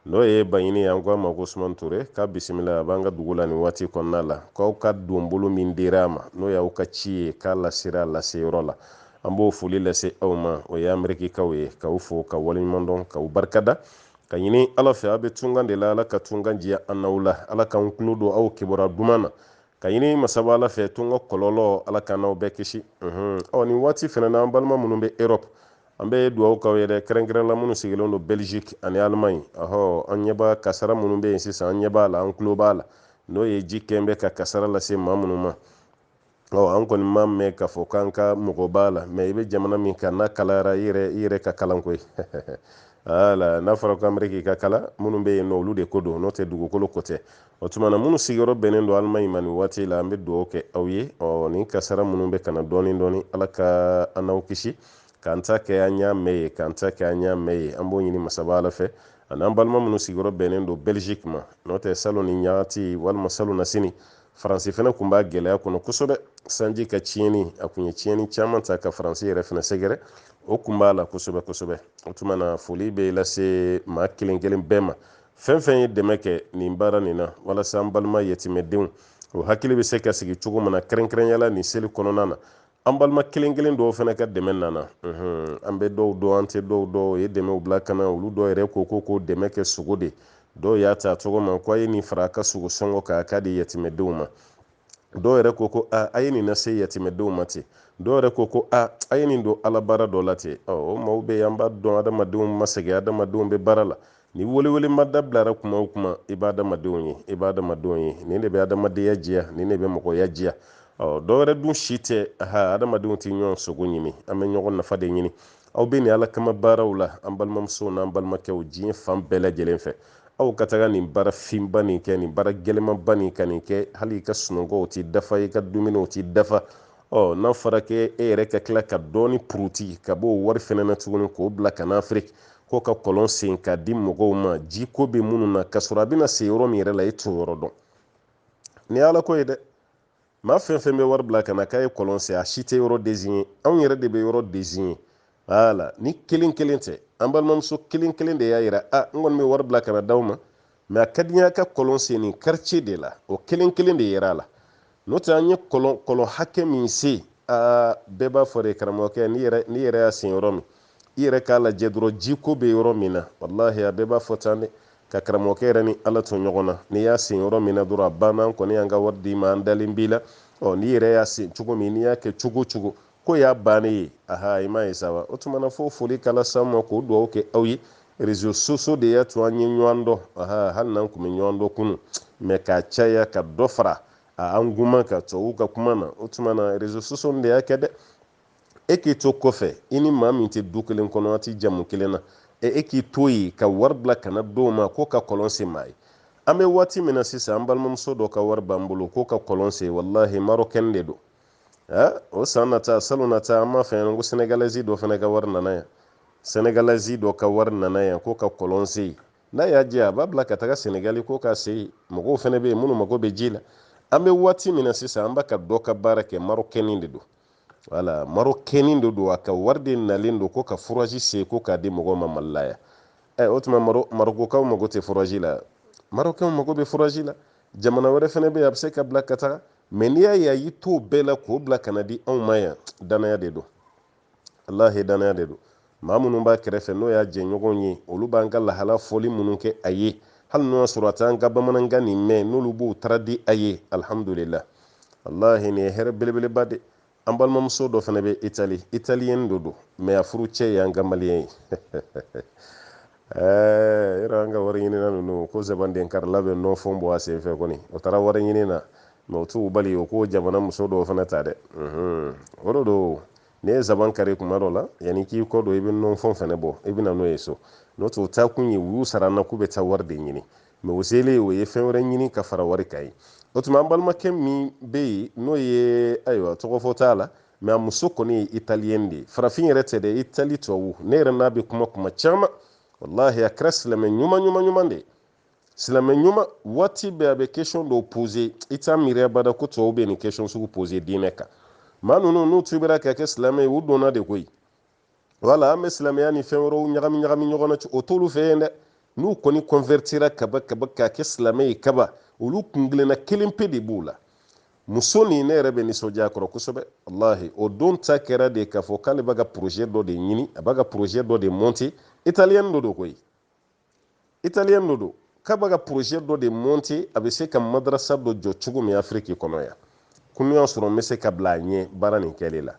n'o ye baɲini ye an ko a ma ko usumani ture k'a bisimila a b'an ka dugu la nin waati kɔnɔna la k'aw ka donbolo min dira a ma n'o y'aw ka ci ye k'a lasera laseyɔrɔ la an b'o foli lase aw ma o ye amerikikaw ye k'aw fo ka waleɲumandɔn k'aw barikada ka ɲini ala fɛ a bɛ tunkan de la ala ka tunkan diya an n'aw la ala k'an tulo don aw kibaruya duman na ka ɲini masaba ala fɛ tunkan kɔlɔlɔ ala k'an n'aw bɛɛ kisi ɔ nin waati fana na an balima minnu bɛ europe an bɛ dugawu k'aw ye dɛ kɛrɛnkɛrɛnla minnu sigilen don belgique ani allemagne ɔhɔ an ɲɛ b'a kasara minnu bɛ yen sisan an ɲɛ b'a la an tulo b'a la n'o ye ji kɛn bɛ ka kasara lase maa minnu ma ɔ an kɔni ma mɛn k'a fɔ k'an ka mɔgɔ b'a la mɛ i bɛ jamana min kan n'a kalayara i yɛrɛ i yɛrɛ ka kalan koyi ala n'a fɔra ko ameriki ka kalan minnu bɛ yen nɔ olu de ko don n'o tɛ dugukolo ko tɛ o tuma na minnu sigiyɔrɔ bɛnnen don allemagne ma nin waati la an bɛ dugawu kɛ aw ye ɔ nin kasara minnu bɛ ka na dɔɔnin dɔɔnin ala ka an n'aw kisi k'an ta kɛ an y'a mɛn ye k'an ta kɛ an y'a mɛn ye an b'o ɲini masaba ala fɛ ani an balima minnu sigiyɔrɔ bɛnnen don belgique ma n'o tɛ salon ni ɲagati walima salon na sini faransi fana tun b'a gɛlɛya kɔnɔ kosɛbɛ sanji ka tiɲɛni a tun ye tiɲɛni caman ta ka faransi yɛrɛ fana sɛgɛrɛ o tun b'a la kosɛbɛ kosɛbɛ o tuma na foli bɛ lase maa kelen kelen bɛɛ ma fɛn fɛn ye dɛmɛ kɛ nin baara nin na walasa an balima yatimɛdenw o hakili bɛ se ka sigi cogo min na kɛrɛnkɛrɛnyala nin seli kɔnɔna na an balima kelen kelen dɔw fana ka dɛmɛ nana an bɛ dɔw dɔn an tɛ dɔw dɔn o ye dɛmɛw bila ka na olu dɔw yɛrɛ ko ko ko dɛmɛ kɛ sogo de dɔw y'a ta cogo ma ko a ye nin fara a ka sogo sɔngɔ kan a k'a di yatimɛdenw ma dɔw yɛrɛ ko ko a a ye nin lase yatimɛdenw ma ten dɔw yɛrɛ ko ko a a ye nin don ala baara dɔ la ten o maaw bɛ an b'a dɔn adamadenw ma sɛgɛn adamadenw bɛ baara la Ni welewele ma dabilara kuma o kuma i b'a adamadenw ye i b'a adamadenw ye nin de bɛ adamadenya diya nin de bɛ mɔgɔya diya ɔ dɔwɛrɛ dun si tɛ ha adamadenw tɛ ɲɔgɔn sogo ɲimi an bɛ ɲɔgɔn nafa de ɲini aw bɛ nin ala kama baaraw la an balimamusow n'an balimakɛw diɲɛ fan bɛɛ lajɛlen fɛ aw ka taga nin baara finba nin kɛ nin baara gɛlɛmanba nin ka nin kɛ hali i ka sunɔgɔw tɛ dafa i ka dumuniw tɛ dafa ɔ n'a fɔra k'e e yɛrɛ ka tila ka dɔɔni puruti ka b'o wari fɛnɛ na tuguni k'o bila ka na afiriki ko ka kɔlɔn sen k'a di mɔgɔw ma ji ko bɛ minnu na k'a sɔrɔ a bɛna se yɔrɔ min yɛrɛ la e t'o yɔrɔ dɔn nin ye ala ko ye dɛ maa fɛn fɛn bɛ wari bila ka na k'a ye kɔlɔn sen a si tɛ yɔrɔ deziɲe anw yɛrɛ de bɛ yɔrɔ deziɲe wala ni kelen kelen tɛ an balimamuso kelen kelen de y'a yira a n kɔni bɛ wari bila ka na d'aw ma mɛ a ka di n ye a ka kɔlɔn sen nin karice de la o kelen kelen de yera a la n'o tɛ an ye kɔlɔn hakɛ min sen aa bɛɛ b'a fɔ de karamɔgɔkɛ n'i yɛrɛ y'a sen yɔrɔ min i yɛrɛ k'a lajɛ dɔrɔn jiko bɛ yɔrɔ min na walahi a bɛɛ b'a fɔ tan dɛ ko karamɔgɔkɛ yɛrɛ ni ala to ɲɔgɔn na n'i y'a sen yɔrɔ min na dɔrɔn a banna an kɔni y'an ka wari d'i ma an dalen b'i la ɔ n'i yɛrɛ y'a sen cogo min n'i y'a kɛ cogo o cogo k'o y'a bannen ye aha i m'a ye sa wa o tuma na fo foli ka las'aw ma k'o dugawu kɛ aw ye rezo sosiyo de y'a to an ye ɲɔgɔn dɔn aha hali n'an tun bɛ ɲɔgɔn dɔn kunun mɛ k'a caya ka dɔ fara a kan guman ka tubabuw ka kuma na o tuma na rezo sosiyo de y'a kɛ dɛ e k'i to kɔfɛ i ni maa min tɛ du kelen kɔnɔ a tɛ jamu kelen na e, e k'i to yen ka wari bila ka na dɔw ma ko ka kɔlɔn sen maa ye an bɛ waati min na sisan an balimamuso dɔ ka wari b'an bolo ko ka kɔlɔn sen walahi marɔkɛni de don ɛ o san nata salon nata an m'a fɔ yan ko sɛnɛgalɛzi dɔ fana ka wari nana yan sɛnɛgalɛzi dɔ ka wari nana yan ko ka kɔlɔn sen yan n'a y'a jɛ a b'a bila ka taga sɛnɛgali ko k'a sen yen mɔgɔw fana bɛ yen minnu mago bɛ ji la an bɛ waati min na sisan an b'a ka dɔ ka baara kɛ marɔkɛni de don wala marɔkɛni de don a ka wari de nalen don ko ka furazi sen ko k'a di mɔgɔw ma mali la yan ɛ o tuma marokokaw mago tɛ furazi la marokɛnw mago bɛ furazi la jamana wɛrɛ fana bɛ yen a bɛ se k'a bila ka taga mɛ n'i y'a ye a y'i t'o bɛɛ la k'o bila ka na di anw ma yan danaya de don walahi danaya de don maa minnu b'a kɛrɛfɛ n'o y'a jɛɲɔgɔnw ye olu b'an ka lahala fɔli minnu kɛ a ye hali n'o y'a sɔrɔ a t'an ka bamanankan nin mɛn n'olu b'o traduire a ye alihamudulila walahi nin ye hɛrɛ belebeleba de an balimamuso dɔ fana bɛ itali italiyɛn dɔ don mɛ a furucɛ ye an ka maliyɛn ye ɛɛ yɔrɔ an ka wari ɲinina ninnu ko zabanden karila bɛ nɔfɔn bɔ a senfɛ kɔni o taara wari ɲini na mɛ o t'u bali o k'o jamana muso dɔw fana ta dɛ o de don n'i ye zaban kari tuma dɔ la yanni k'i kɔ don i bɛ nɔfɔn fana bɔ i bɛ na n'o ye so n'o tɛ o taa kun ye u y'u sara an na k'u bɛ taa wari de ɲini mɛ o selen o ye fɛn wɛrɛ ɲini ka fara wari kan yen o tuma an balimakɛ min bɛ yen n'o ye ayiwa tɔgɔfɔ t'a la mɛ a muso kɔni ye italiyɛn de ye farafin yɛrɛ tɛ dɛ itali tubabu ne yɛrɛ n'a bɛ kuma tuma caman walahi a kɛra silamɛ ɲuman ɲuman ɲuman de ye silamɛ ɲuman waati bɛɛ a bɛ kesɔn dɔw poze i t'a miiri abada ko tubabu bɛ nin kesɔn sugu poze diinɛ kan maa ninnu n'u tubira ka kɛ silamɛ ye u donna de koyi wala an bɛ silamɛya ni fɛn wɛrɛw ɲagami ɲagami ɲɔgɔn na o t'olu fɛ yen dɛ n'u kɔni kɔnwɛritira kaba kaba ka kɛ silamɛ ye kaba olu kuntilenna kelen pe de b'u la muso nin ne yɛrɛ bɛ nisɔndiya a kɔrɔ kosɛbɛ walahi o don ta kɛra de k'a fɔ k'ale b'a ka projet dɔ de ɲini a b'a ka projet dɔ de monter italiyɛni dɔ don koyi italiyɛn dɔ don k'a b'a ka porozɛ dɔ de monte a bɛ se ka madarasa dɔ jɔ cogo min afiriki kɔnɔ yan ko n'o y'a sɔrɔ n bɛ se ka bila a ɲɛ baara nin kɛli la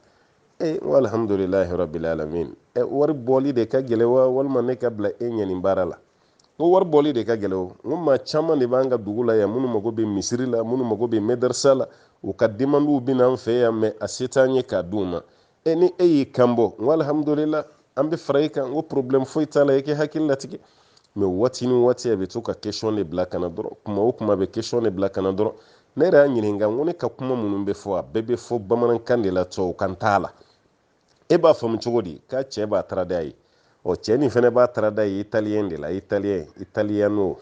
e n ko alihamudulilahi rabil alamin ɛ wari bɔli de ka gɛlɛ wa walima ne ka bila e ɲɛ nin baara la n ko wari bɔli de ka gɛlɛ o n ko maa caman de b'an ka dugu la yan minnu mago bɛ misiri la minnu mago bɛ madarasa la u ka demandiw bɛ n'an fɛ yan mɛ a se t'an ye k'a d'u ma e ni e y'i kan bɔ n ko alihamudulila an bɛ fara i kan n ko porobilɛmu foyi t'a la i k'i hakili latigɛ mɛ waati ni waati a bɛ to ka kesiyɔn de bila ka na dɔrɔn kuma o kuma a bɛ kesiyɔn de bila ka na dɔrɔn ne yɛrɛ y'a ɲininka n ko ne ka kuma minnu bɛ fɔ a bɛɛ bɛ fɔ bamanankan de la tubabukan t'a la e b'a faamu cogo di k'a cɛ b'a tarad'a ye ɔ cɛ nin fɛnɛ b'a tarad'a ye italiyɛn de la italiyɛn italiyano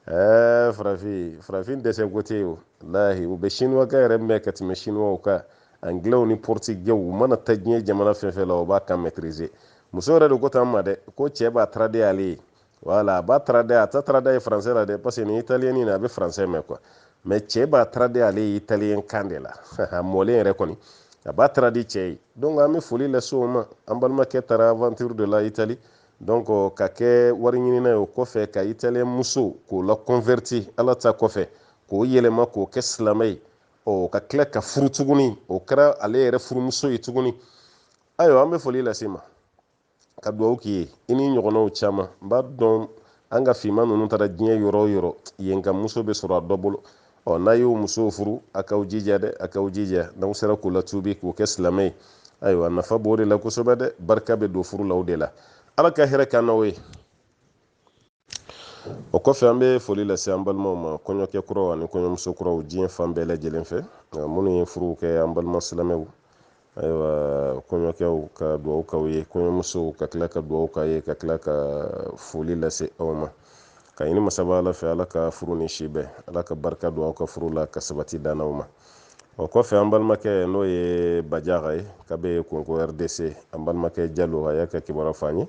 ɛɛ farafin farafin dɛsɛ ko tɛ walahi u bɛ sinuwakan yɛrɛ mɛn ka tɛmɛ sinuwaw kan angilɛw ni pɔrtigɛw u mana taa diɲɛ jamana fɛn fɛn la o b'a kan mɛtirize muso yɛrɛ de ko tan n ma dɛ ko cɛ b'a taradi ale ye wala a b'a tarad'a a t'a tarad'a ye français la dɛ parce que ni italien nin a bɛ français mɛn quoi mais cɛ b'a taradi ale ye italien kan de la a mɔlen yɛrɛ kɔni a b'a taradi cɛ ye donc an bɛ foli lase o ma an balimakɛ taara aventure de la italie donc ka kɛ wari ɲinina ye o kɔfɛ ka italien muso k'o laconverti ala ta kɔfɛ k'o yɛlɛma k'o kɛ silamɛ ye ɔ ka tila k'a furu tuguni o kɛra ale yɛrɛ furumuso ye tuguni ayiwa an bɛ foli las'i ma ka dugawu k'i ye i n'i ɲɔgɔnnaw caman n b'a dɔn an ka finman ninnu taara diɲɛ yɔrɔ o yɔrɔ yen ka muso bɛ sɔrɔ a dɔ bolo ɔ n'a y'o musow furu a k'aw jija dɛ a k'aw jija n'aw sera k'o latubi k'o kɛ silamɛ ye ayiwa nafa b'o de la kosɛbɛ dɛ barika bɛ don furu la o de la ala ka hɛrɛ k'an n'aw ye o kɔfɛ an bɛ foli lase an balimaw ma kɔɲɔkɛ kuraw ani kɔɲɔmuso kuraw diɲɛ fan bɛɛ lajɛlen fɛ minnu ye furuw kɛ an balima silamɛw ayiwa kɔɲɔkɛw ka dugawu k'aw ye kɔɲɔmusow ka tila ka dugawu k'a ye ka tila ka foli lase aw ma ka ɲini masaba ala fɛ ala ka furu ni si bɛn ala ka barika don aw ka furu la ka sabati d'an n'aw ma o kɔfɛ an balimakɛ n'o ye bajaga ye k'a bɛ kongo rdc an balimakɛ jalo a y'a ka kibaruya fɔ an ye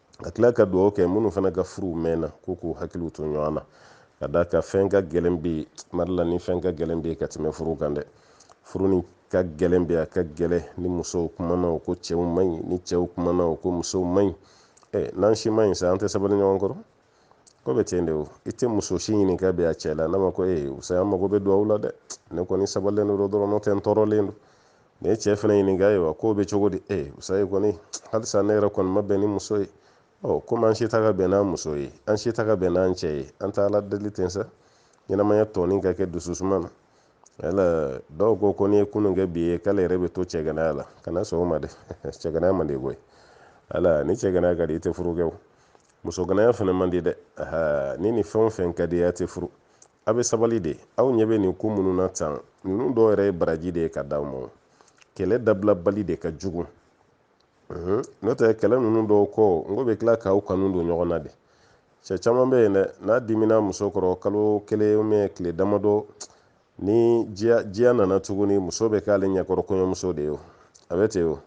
ka tila ka dugawu kɛ minnu fana ka furuw mɛnna ko k'u hakiliw to ɲɔgɔn na ka d'a kan fɛn ka gɛlɛn bi mali la ni fɛn ka gɛlɛn bi ka tɛmɛ furu kan dɛ furu nin ka gɛlɛn bi a ka gɛlɛn ni musow kumana o ko cɛw man ɲi ni cɛw kumana o ko musow man ɲi ɛ n'an si man ɲi sa an tɛ sabali ɲɔgɔn kɔrɔ ko bɛ ten de o i tɛ muso si ɲininka bi a cɛ la n'a ma ko ee sa an mago bɛ dugawu la dɛ ne kɔni sabalilen don dɔrɔn n'o tɛ n tɔɔrɔlen don nin ye cɛ fana ɲininka ye wa k'o bɛ cogo di e eh, musa ye kɔni halisa ne yɛrɛ kɔni ma bɛn ni muso ye ɔ komi an si tɛ ka bɛn n'an muso ye an si tɛ ka bɛn n'an cɛ ye an tɛ ala deli ten sa ɲɛnamaya tɔɔni ka kɛ dususuma na yala dɔw ko ko n'i ye kunun kɛ bi ye k'ale yɛrɛ bɛ to cɛganaya la kana sɔn o ma dɛ cɛganaya man di koyi ala ni cɛganaya ka di i tɛ furu kɛ o musoganaya fana man di dɛ ni nin fɛn o fɛn ka di i ye a tɛ furu A bɛ sabali de aw ɲɛ bɛ nin ko minnu na tan ninnu dɔw yɛrɛ ye baraji de ye ka d'aw ma kɛlɛ dabilabali de ka jugu n'o tɛ kɛlɛ ninnu dɔw kɔ n ko bɛ tila k'aw kanu don ɲɔgɔn na de cɛ caman bɛ yen dɛ n'a dimina muso kɔrɔ kalo kelen ou bien tile damadɔ ni diya nana tuguni muso bɛ k'ale ɲɛkɔrɔ kɔɲɔmuso de ye a bɛ ten o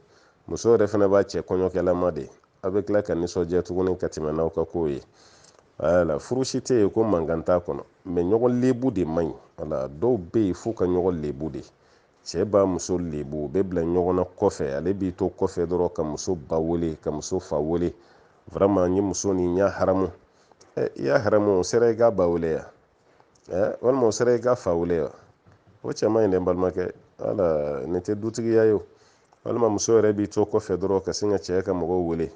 muso yɛrɛ fana b'a cɛ kɔɲɔkɛlama de aw bɛ tila ka nisɔndiya tuguni ka tɛmɛ n'aw ka kow ye wala furu si tɛ yen ko mankan t'a kɔnɔ mɛ ɲɔgɔn lebu de man ɲi wala dɔw bɛ yen f'u ka ɲɔgɔn lebu de cɛ b'a muso lebu u bɛ bila ɲɔgɔn na kɔfɛ ale b'i to kɔfɛ dɔrɔn ka muso ba wele ka muso fa wele vraiment n ye muso nin y'a haramu ɛ i y'a haramu o sera i k'a ba wele ya ɛ walima o sera i k'a fa wele ya o cɛ man ɲi dɛ n balimakɛ wala nin tɛ dutigiya ye o walima muso yɛrɛ b'i to kɔfɛ dɔrɔn ka sin ka cɛ ka mɔgɔw wele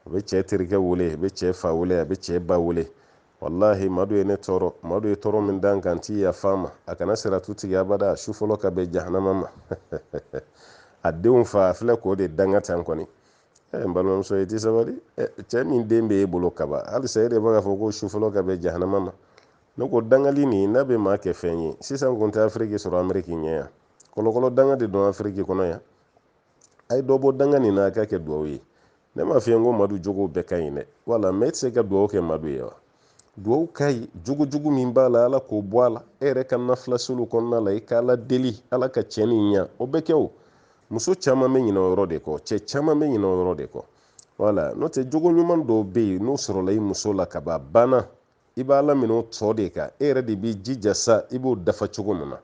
a bɛ cɛ terikɛ wele a bɛ cɛ fa wele a bɛ cɛ ba wele walahi madu ye ne tɔɔrɔ madu ye tɔɔrɔ min da n kan n tɛ yafa a ma a kana siratu tigɛ abada su fɔlɔ ka bɛn jahanama ma a denw fa a filɛ k'o de danga tan kɔni eh, n balimamuso i tɛ sabali eh, cɛ min den bɛ e bolo kaban halisa e de b'a fɔ ko su fɔlɔ ka bɛn jahanama ma ne ko dangali nin n'a bɛ maa kɛ fɛn ye sisan kun tɛ afiriki sɔrɔ ameriki ɲɛ yan kɔlɔkɔlɔ danga de don afiriki kɔnɔ yan a ye dɔ bɔ danga nin na a ka kɛ duwawu ye ne m'a f'i ye n ko madu jogow bɛɛ ka ɲi dɛ wala mɛ e tɛ se ka duwawu kɛ madu ye wa duwawu ka ɲi jogojugu min b'a la ala k'o bɔ a la e yɛrɛ ka nafilaseliw kɔnɔna la i ka ala deli ala ka cɛ nin ɲa o bɛ kɛ o muso caman bɛ ɲinɛ o yɔrɔ de kɔ cɛ caman bɛ ɲinɛ o yɔrɔ de kɔ wala n'o tɛ jogo ɲuman dɔw bɛ yen n'o sɔrɔla i muso la ka ban a banna i b'a laminɛ o tɔ de kan e yɛrɛ de b'i jija sa i b'o dafa cogo min na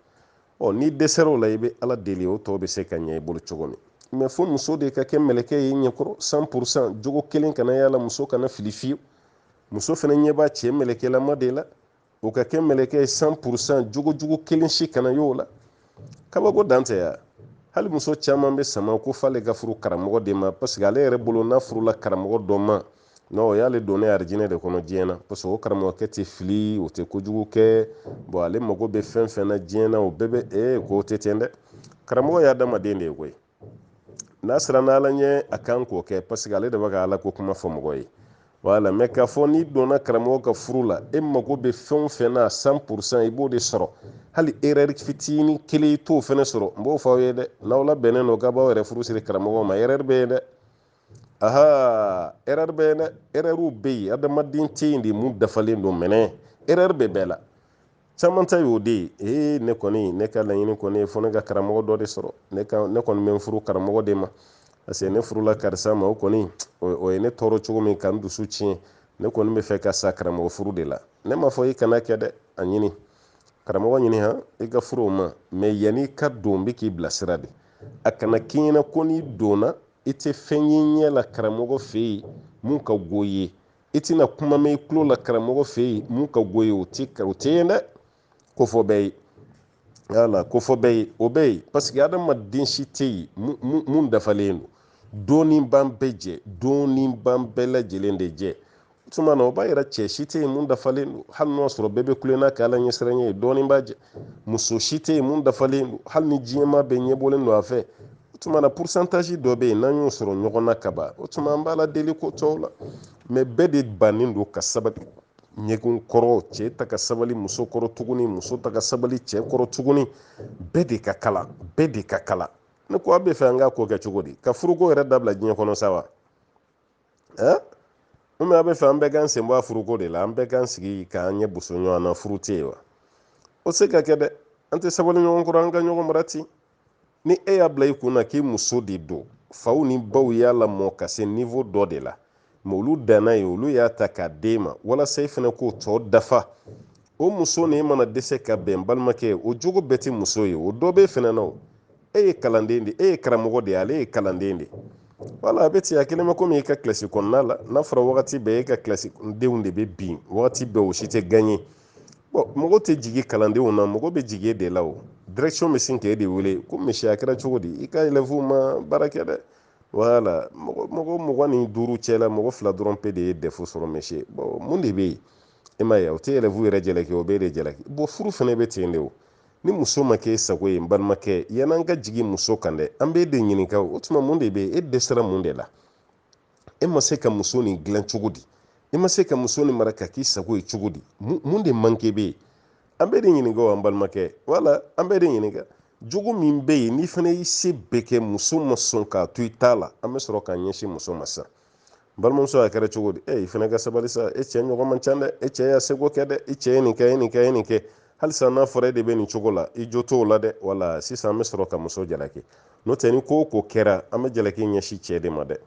ɔ n'i dɛsɛra o la i bɛ ala deli o tɔ bɛ se ka ɲɛ i bolo cogo min mɛ fo muso de ka kɛ mɛlɛkɛ ye i ɲɛkɔrɔ san purusan jogo kelen kana y'a la muso kana fili fiyewu muso fana ɲɛ b'a cɛ mɛlɛkɛlama de la o ka kɛ mɛlɛkɛ ye san purusan jogojugu kelen si kana y'o la kabako dan tɛ ya hali muso caman bɛ sama ko f'ale ka furu karamɔgɔ de ma parce que ale yɛrɛ bolo n'a furula karamɔgɔ dɔ ma non o y'ale donnen arijinɛ de kɔnɔ diɲɛ na parce que o karamɔgɔkɛ tɛ fili o tɛ kojugu kɛ bon ale mago bɛ fɛn fɛn na diɲɛ na o bɛɛ bɛ ee k'o tɛ ten dɛ karamɔgɔ ye adamaden de ye koyi n'a siranna ala ɲɛ a kan k'o kɛ parce que ale de bɛ ka ala ko kuma fɔ mɔgɔ ye voilà mais k'a fɔ n'i donna karamɔgɔ ka furu la e mago bɛ fɛn o fɛn na cent pour cent i b'o de sɔrɔ hali erreur fitinin kelen i t'o fɛnɛ sɔrɔ n b'o fɔ aw ye dɛ n'aw labɛnnen don k'a b'aw yɛrɛ furu siri karamɔgɔ ma erreur bɛ yen dɛ aha erreur bɛ yen erreur bɛ yen adamaden tɛ yen de mun dafalen don mɛnɛ erreur bɛ bɛɛ la caman ta y'o de ye ee ne kɔni ne ka laɲini kɔni fo ne ka karamɔgɔ dɔ de sɔrɔ ne ka ne kɔni bɛ n furu karamɔgɔ de ma parce que ne furula karisa ma o kɔni o ye ne tɔɔrɔ cogo min ka n dusu tiɲɛ ne kɔni bɛ fɛ ka sa karamɔgɔ furu de la ne m'a fɔ i kan'a kɛ dɛ a ɲini karamɔgɔ ɲini han i ka furu o ma mais yanni i ka don n bɛ k'i bilasira de a kana k'i ɲɛna ko n'i donna i tɛ fɛn y'i ɲɛ la karamɔgɔ fɛ yen mun ka go i ye i tɛna kuma mɛn i tulo la karamɔgɔ fɛ yen mun ka go i ye o tɛ o tɛ yen dɛ ko fɔ bɛɛ ye yala ko fɔ bɛɛ ye o bɛ yen parce que adamaden si tɛ yen mun dafalen don dɔɔnin b'an bɛɛ jɛ dɔɔnin b'an bɛɛ lajɛlen de jɛ tuma na o b'a yira cɛ si tɛ yen mun dafalen don hali n'o sɔrɔ bɛɛ bɛ kulenna kɛ ala ɲɛsiranɲɛ ye dɔɔnin b'a jɛ muso si tɛ yen mun dafalen don hali ni diɲɛmaa bɛɛ ɲɛbɔlen don a fɛ o tuma na pourcentage dɔ bɛ yen n'an y'o sɔrɔ ɲɔgɔn na ka ban o tuma an b'ala deli ko tɔw la mais bɛɛ de bannen don ka sabali ɲɔgɔn kɔrɔ cɛ tɛ ka sabali muso kɔrɔ tuguni muso tɛ ka sabali cɛ kɔrɔ tuguni bɛɛ de ka kalan bɛɛ de ka kalan ne ko a bɛ fɛ an k'a ko kɛ cogo di ka furuko yɛrɛ dabila diɲɛ kɔnɔ sa wa ɛ u mɛ a bɛ fɛ an bɛɛ k'an sen bɔ a furuko de la an bɛɛ k'an sigi k'an ɲɛ boso ɲɔgɔn na furu tɛ yen wa o tɛ se ka kɛ dɛ an tɛ sabali ɲɔgɔn kɔrɔ an ka ɲɔgɔn mara ten ni e y'a bila i kun na k'i muso de don faw ni baw y'a lamɔ ka se niveau dɔ de la mais olu danna yen olu y'a ta k'a d'e ma walasa i fana k'o tɔ dafa o muso ni e mana dɛsɛ ka bɛn balimakɛ o jogo bɛɛ tɛ muso ye o dɔ b'e fana na o e ye kalanden de e ye karamɔgɔ de ye ale ye kalanden de voilà a bɛ ten a kelen bɛ komi e ka kilasi kɔnɔna la n'a fɔra wagati bɛɛ e ka kilasi denw de bɛ bin wagati bɛɛ o si tɛ gagner bon mɔgɔ tɛ jigin kalandenw na mɔgɔ bɛ jigin e de la o direction bɛ sin k'e de wele ko monsieur a kɛra cogo di i ka élèves ma baara kɛ dɛ voilà mɔgɔ mɔgɔ mugan ni duuru cɛ la mɔgɔ fila dɔrɔn pe de ye dɛfu sɔrɔ monsieur bon mun de bɛ yen e m'a ye o tɛ élève yɛrɛ jalaki o b'e de jalaki bon furu fana bɛ ten de o ni muso ma kɛ e sago ye n balimakɛ yan'an ka jigin muso kan dɛ an b'e de ɲininka o tuma mun de bɛ yen e dɛsɛra mun de la e ma se ka muso nin dilan cogo di e ma se ka muso nin mara ka k'i sago ye cogo di mun de manque bɛ yen an b'e de ɲininka o an balimakɛ voilà an b'e de ɲininka jogo min bɛ yen n'i fana y'i se bɛɛ kɛ muso ma sɔn k'a to i ta la an bɛ sɔrɔ k'an ɲɛsin muso ma sisan balimamuso a kɛra cogo di e i fana ka sabali sa e cɛ ɲɔgɔn man ca dɛ e cɛ y'a seko kɛ dɛ i cɛ ye nin kɛ ye nin kɛ ye nin kɛ halisa n'a fɔra e de bɛ nin cogo la i jo t'o la dɛ wala sisan an bɛ sɔrɔ ka muso jalaki n'o tɛ ni ko o ko kɛra an bɛ jalaki ɲɛsin cɛ de ma dɛ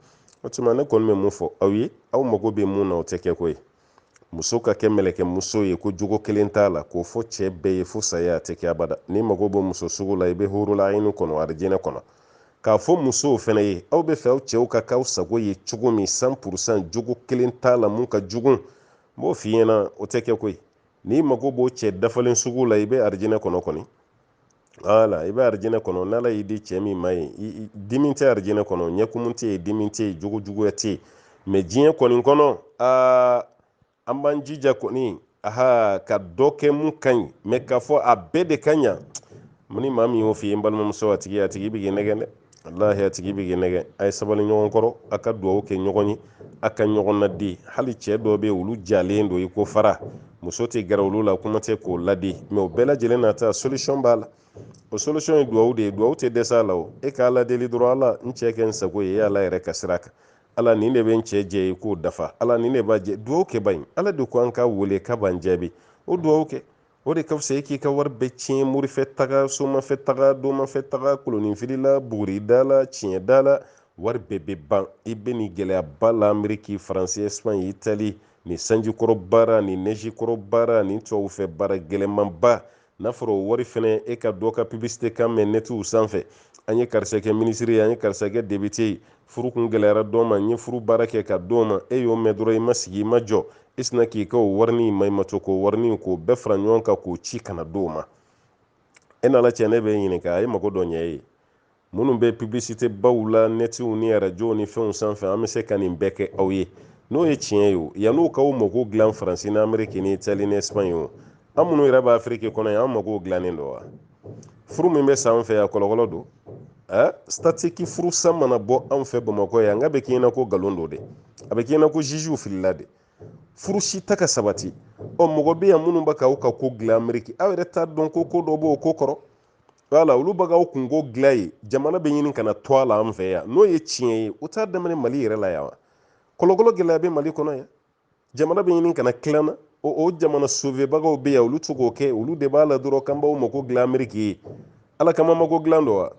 o tuma ne kɔni bɛ mun fɔ aw ye aw mago bɛ mun na o tɛ kɛ ko ye muso ka kɛ mɛlɛkɛ muso ye ko jogo kelen t'a la k'o fɔ cɛ bɛɛ ye fo saya a tɛ kɛ abada n'i mago b'o muso sugu la i bɛ hurul ayini kɔnɔ arijinɛ kɔnɔ k'a fɔ musow fɛnɛ ye aw b'a fɛ aw cɛw ka k'aw sago ye cogo min cent pour cent jogo kelen t'a la mun ka jugu n b'o f'i ɲɛna o tɛ kɛ koyi n'i mago b'o cɛ dafalen sugu la i bɛ arijinɛ kɔnɔ kɔni wala i bɛ arijinɛ kɔnɔ n'ala y'i di cɛ min ma yen dimi tɛ arijinɛ kɔnɔ ɲɛkumu tɛ yen dimi tɛ yen jogo juguya tɛ yen mɛ diɲɛ kɔni kɔnɔ aa an b'an jija kɔni aha ka dɔ kɛ mun ka ɲi mɛ k'a fɔ a bɛɛ de ka ɲa mun ni maa min y'o f'i ye n balimamuso a tigi a tigi bɛ k'i nɛgɛn dɛ walahi a tigi bɛ k'i nɛgɛn a ye sabali ɲɔgɔn kɔrɔ a ka dugawu kɛ ɲɔgɔn ye a ka ɲɔgɔn ladi hali cɛ dɔw bɛ yen olu jalen don i ko fara muso tɛ gɛrɛ olu la kuma tɛ k'o ladi mɛ o bɛɛ lajɛlen n'a ta solution b'a la o solution ye dugawu de ye dugawu tɛ dɛsɛ a la o e k'ala deli dɔrɔn ala n cɛ kɛ n sago ye e ala yɛrɛ ka sira kan ala nin de bɛ n cɛ jɛ e k'o dafa ala nin de b'a jɛ dugawu kɛ ba in ala de ko an k'a wele k'a b'an jaabi o dugawu kɛ o de ka fisa e k'i ka wari bɛɛ tiɲɛ morifɛ taga somafɛ taga domafɛ taga koloninfilila buguridala tiɲɛdala wari bɛɛ bɛ ban i bɛ nin gɛlɛyaba la ameriki faransi espagne itali nin sanjikɔrɔ baara nin nɛjikɔrɔ baara nin tubabufɛ baara gɛlɛmanba n'a fɔra o wari fɛnɛ e ka dɔ ka publicité kan mɛn nɛtiw sanfɛ an ye karisa kɛ minisiri ye an ye karisa kɛ député ye furu kun gɛlɛyara dɔ ma n ye furu baara kɛ ka d'o ma e y'o mɛn dɔrɔn i ma sigi i ma jɔ i sina k'i ka o warini maɲumatɔ ko warini k'o bɛɛ fara ɲɔgɔn kan k'o ci ka na d'o ma e n'ala cɛ ne b'i ɲininka a ye mago dɔ ɲɛ e ye minnu bɛ publicité baw la nɛtiw ni arajow ni fɛnw sanfɛ an bɛ se ka nin bɛɛ kɛ aw ye n'o ye tiɲɛ ye o yan'u k'aw mago dilan faransi ni ameriki ni itali ni espagne o an minnu yɛrɛ bɛ afiriki kɔnɔ yan an mago dilannen don wa furu min bɛ sa an fɛ yan kɔlɔkɔlɔ don ɛ statiki furusa mana bɔ anw fɛ bamakɔ yan n k'a bɛ k'i ɲɛna ko nkalon don de a bɛ k'i ɲɛna ko jugew filila de furu si tɛ ka sabati ɔ mɔgɔ bɛ yan minnu bɛ k'aw ka ko dilan ameriki aw yɛrɛ t'a dɔn ko ko dɔ b'o ko kɔrɔ wala olu bɛ k'aw kunko dilan ye jamana bɛ ɲini ka na to a la an fɛ yan n'o ye tiɲɛ ye o t'a daminɛ mali yɛrɛ la yan wa kɔlɔkɔlɔ gɛlɛya bɛ mali kɔnɔ yan jamana bɛ ɲini ka na tilan na o o jamana sovebagaw bɛ yan olu tɛ k'o kɛ olu de b'a la dɔrɔn k'an b'aw mako dilan ameriki ye ala kama mako dilan don wa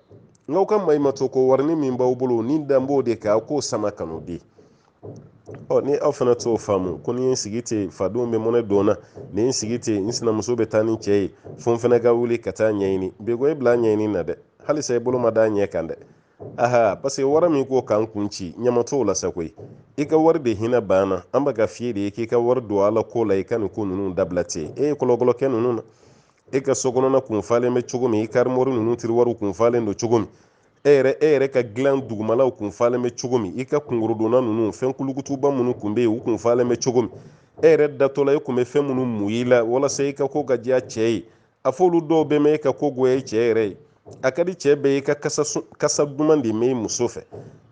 n'aw ka maɲumatɔ ko warini min b'aw bolo ni dan b'o de kɛ aw k'o sama ka n'o di ɔ ni aw fana t'o faamu ko ni n sigi ten fadenw bɛ mɔnɛ don n na ni n sigi ten n sinamuso bɛ taa ni cɛ ye fo n fana ka wuli ka taa ɲɛɲini bɛɛ ko e bila ɲɛɲini na dɛ halisa i bolo ma d'a ɲɛ kan dɛ aha parce que wari min ko k'an kun ci ɲama t'o la sa koyi i ka wari de hinɛ b'an na an bɛ k'a f'i de ye k'i ka wari don ala ko la i ka nin ko ninnu dabila ten e ye kɔlɔkɔlɔ kɛ ninnu na e ka sokɔnɔna kun falen bɛ cogo min i karimɔri ninnu tiriwariw kun falen don cogo min e yɛrɛ e yɛrɛ ka dilan dugumalaw kun falen bɛ cogo min i ka kunkɔrɔdonnan ninnu fɛn kulukutuba minnu kun bɛ yen u kun falen bɛ cogo min e yɛrɛ datɔla e kun bɛ fɛn minnu mun i la walasa i ka ko ka diya cɛ ye a f'olu dɔw bɛ mɛn e ka ko goya i cɛ yɛrɛ ye a ka di cɛ bɛɛ ye i ka kasa duman de mɛn i muso fɛ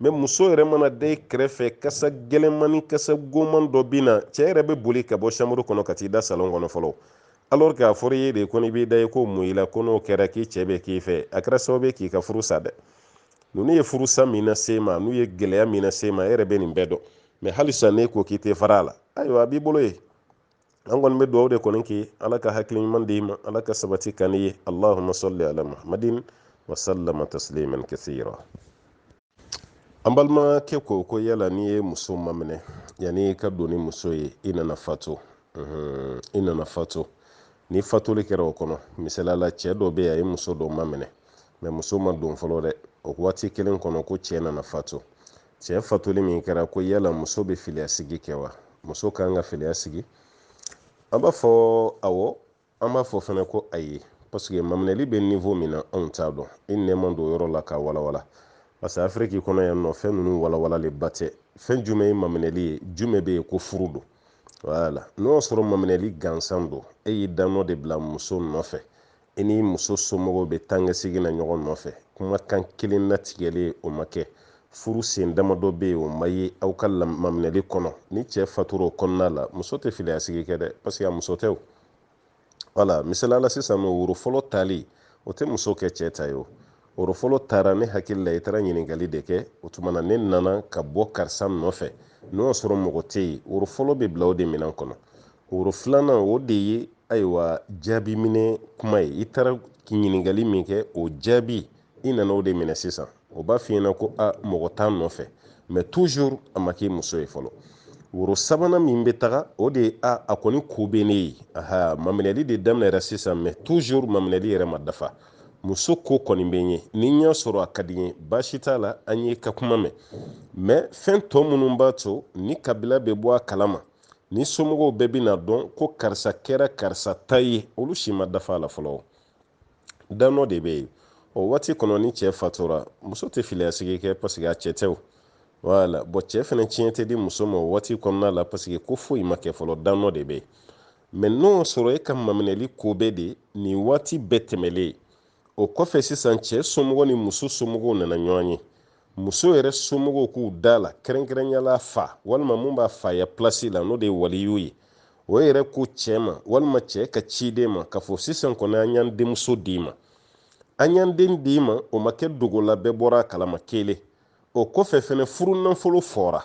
mɛ muso yɛrɛ mana da i kɛrɛfɛ kasa gɛlɛnman ni kasa goman dɔ bɛ na cɛ yɛrɛ bɛ boli ka bɔ chambre kɔnɔ ka t'i da salon kɔnɔ fɔlɔ alors k'a fɔra i ye de ko n'i b'i da i k'o mun i la ko n'o kɛra k'i cɛ bɛ k'i fɛ a kɛra sababu ye k'i ka furu sa dɛ ninnu ye furusa min na se ma n'u ye gɛlɛya min na se ma e yɛrɛ bɛ nin bɛɛ dɔn mɛ halisa n'e ko k'i tɛ fara a la ayiwa a b'i bolo ye an kɔni bɛ dugawu de kɔni kɛ ala ka hakili ɲuman d'i ma ala ka sabati ka ne ye alahuma sɔli ala muhammadin wa salama tasliman kasira an balimakɛ ko ko yala n'i ye muso maminɛ yanni i ka don ni muso ye i nana fatu i nana fatu ni fatuli kɛra o kɔnɔ misali la cɛ dɔ bɛ yen a ye muso dɔ maminɛ mɛ muso ma don fɔlɔ dɛ o waati kelen kɔnɔ ko cɛ nana fatu cɛ fatuli min kɛra ko yala muso bɛ filiya sigi kɛ wa muso kan ka filiya sigi an b'a fɔ awɔ an b'a fɔ fana ko ayi parce que maminɛli bɛ niveau min na anw t'a dɔn i n'i ma don yɔrɔ la k'a walawala parce que afiriki kɔnɔ yan nɔ fɛn ninnu walawalalenba tɛ fɛn jumɛn ye maminɛli ye jumɛn bɛ yen ko furu don wala n'o y'a sɔrɔ maminɛli gansan don e y'i danɔ de bila muso nɔfɛ i ni muso somɔgɔw bɛ taakasegin na ɲɔgɔn nɔfɛ kumakan kelen natigɛlen o ma kɛ furu sen damadɔ bɛ yen o ma ye aw ka maminɛli kɔnɔ ni cɛ fatura o kɔnɔna la muso tɛ filiyasigi kɛ dɛ parce que a muso tɛ o wala misaliya la sisan nɔ woro fɔlɔ tali o tɛ muso kɛ cɛ ta ye o woro fɔlɔ taara ne hakili la i taara ɲininkali de kɛ o tuma na ne nana ka bɔ karisa nɔfɛ n'o y'a sɔrɔ mɔgɔ tɛ yen woro fɔlɔ bɛ bila o de minɛn kɔnɔ woro filanan o de ye ayiwa jaabi minɛ kuma ye i taara ɲininkali min kɛ o jaabi i nana o de minɛ sisan o b'a f'i ɲɛna ko a mɔgɔ t'a nɔfɛ mɛ toujours a ma k'i muso ye fɔlɔ woro sabanan min bɛ taga o de ye a a kɔni ko bɛ ne ye aha maminɛli de daminɛra sisan mɛ toujours maminɛli yɛrɛ ma dafa muso ko kɔni bɛ n ye ni n y'a sɔrɔ a ka di n ye baasi t'a la an y'i ka kuma mɛn mɛ fɛn tɔ minnu b'a to ni kabila bɛ bɔ a kalama ni somɔgɔw bɛɛ bɛna dɔn ko karisa kɛra karisa ta ye olu si ma dafa a la fɔlɔ danɔ de bɛ yen o waati kɔnɔ ni cɛ fatura muso tɛ filiya sigi kɛ parce que a cɛ tɛ o voilà bon cɛ fana tiɲɛ tɛ di muso ma o waati kɔnɔna la parce que ko foyi ma kɛ fɔlɔ danɔ de bɛ yen mais n'o sɔrɔ e ka maminɛli ko bɛɛ de nin waati bɛɛ tɛmɛlen o kɔfɛ sisan cɛ somɔgɔw ni muso somɔgɔw nana ɲɔgɔn ye muso yɛrɛ somɔgɔw k'u da la kɛrɛnkɛrɛnya la a fa walima mun b'a faya plasi la n'o de ye waliyu ye o yɛrɛ ko cɛɛ ma walima cɛɛ ka ciden ma k'a fɔ sisan kɔni an y'an denmuso d'i ma an y'an den d'i ma o ma kɛ dogola bɛɛ bɔra a kalama kelen o kɔfɛ fɛnɛ furu nanfolo fɔra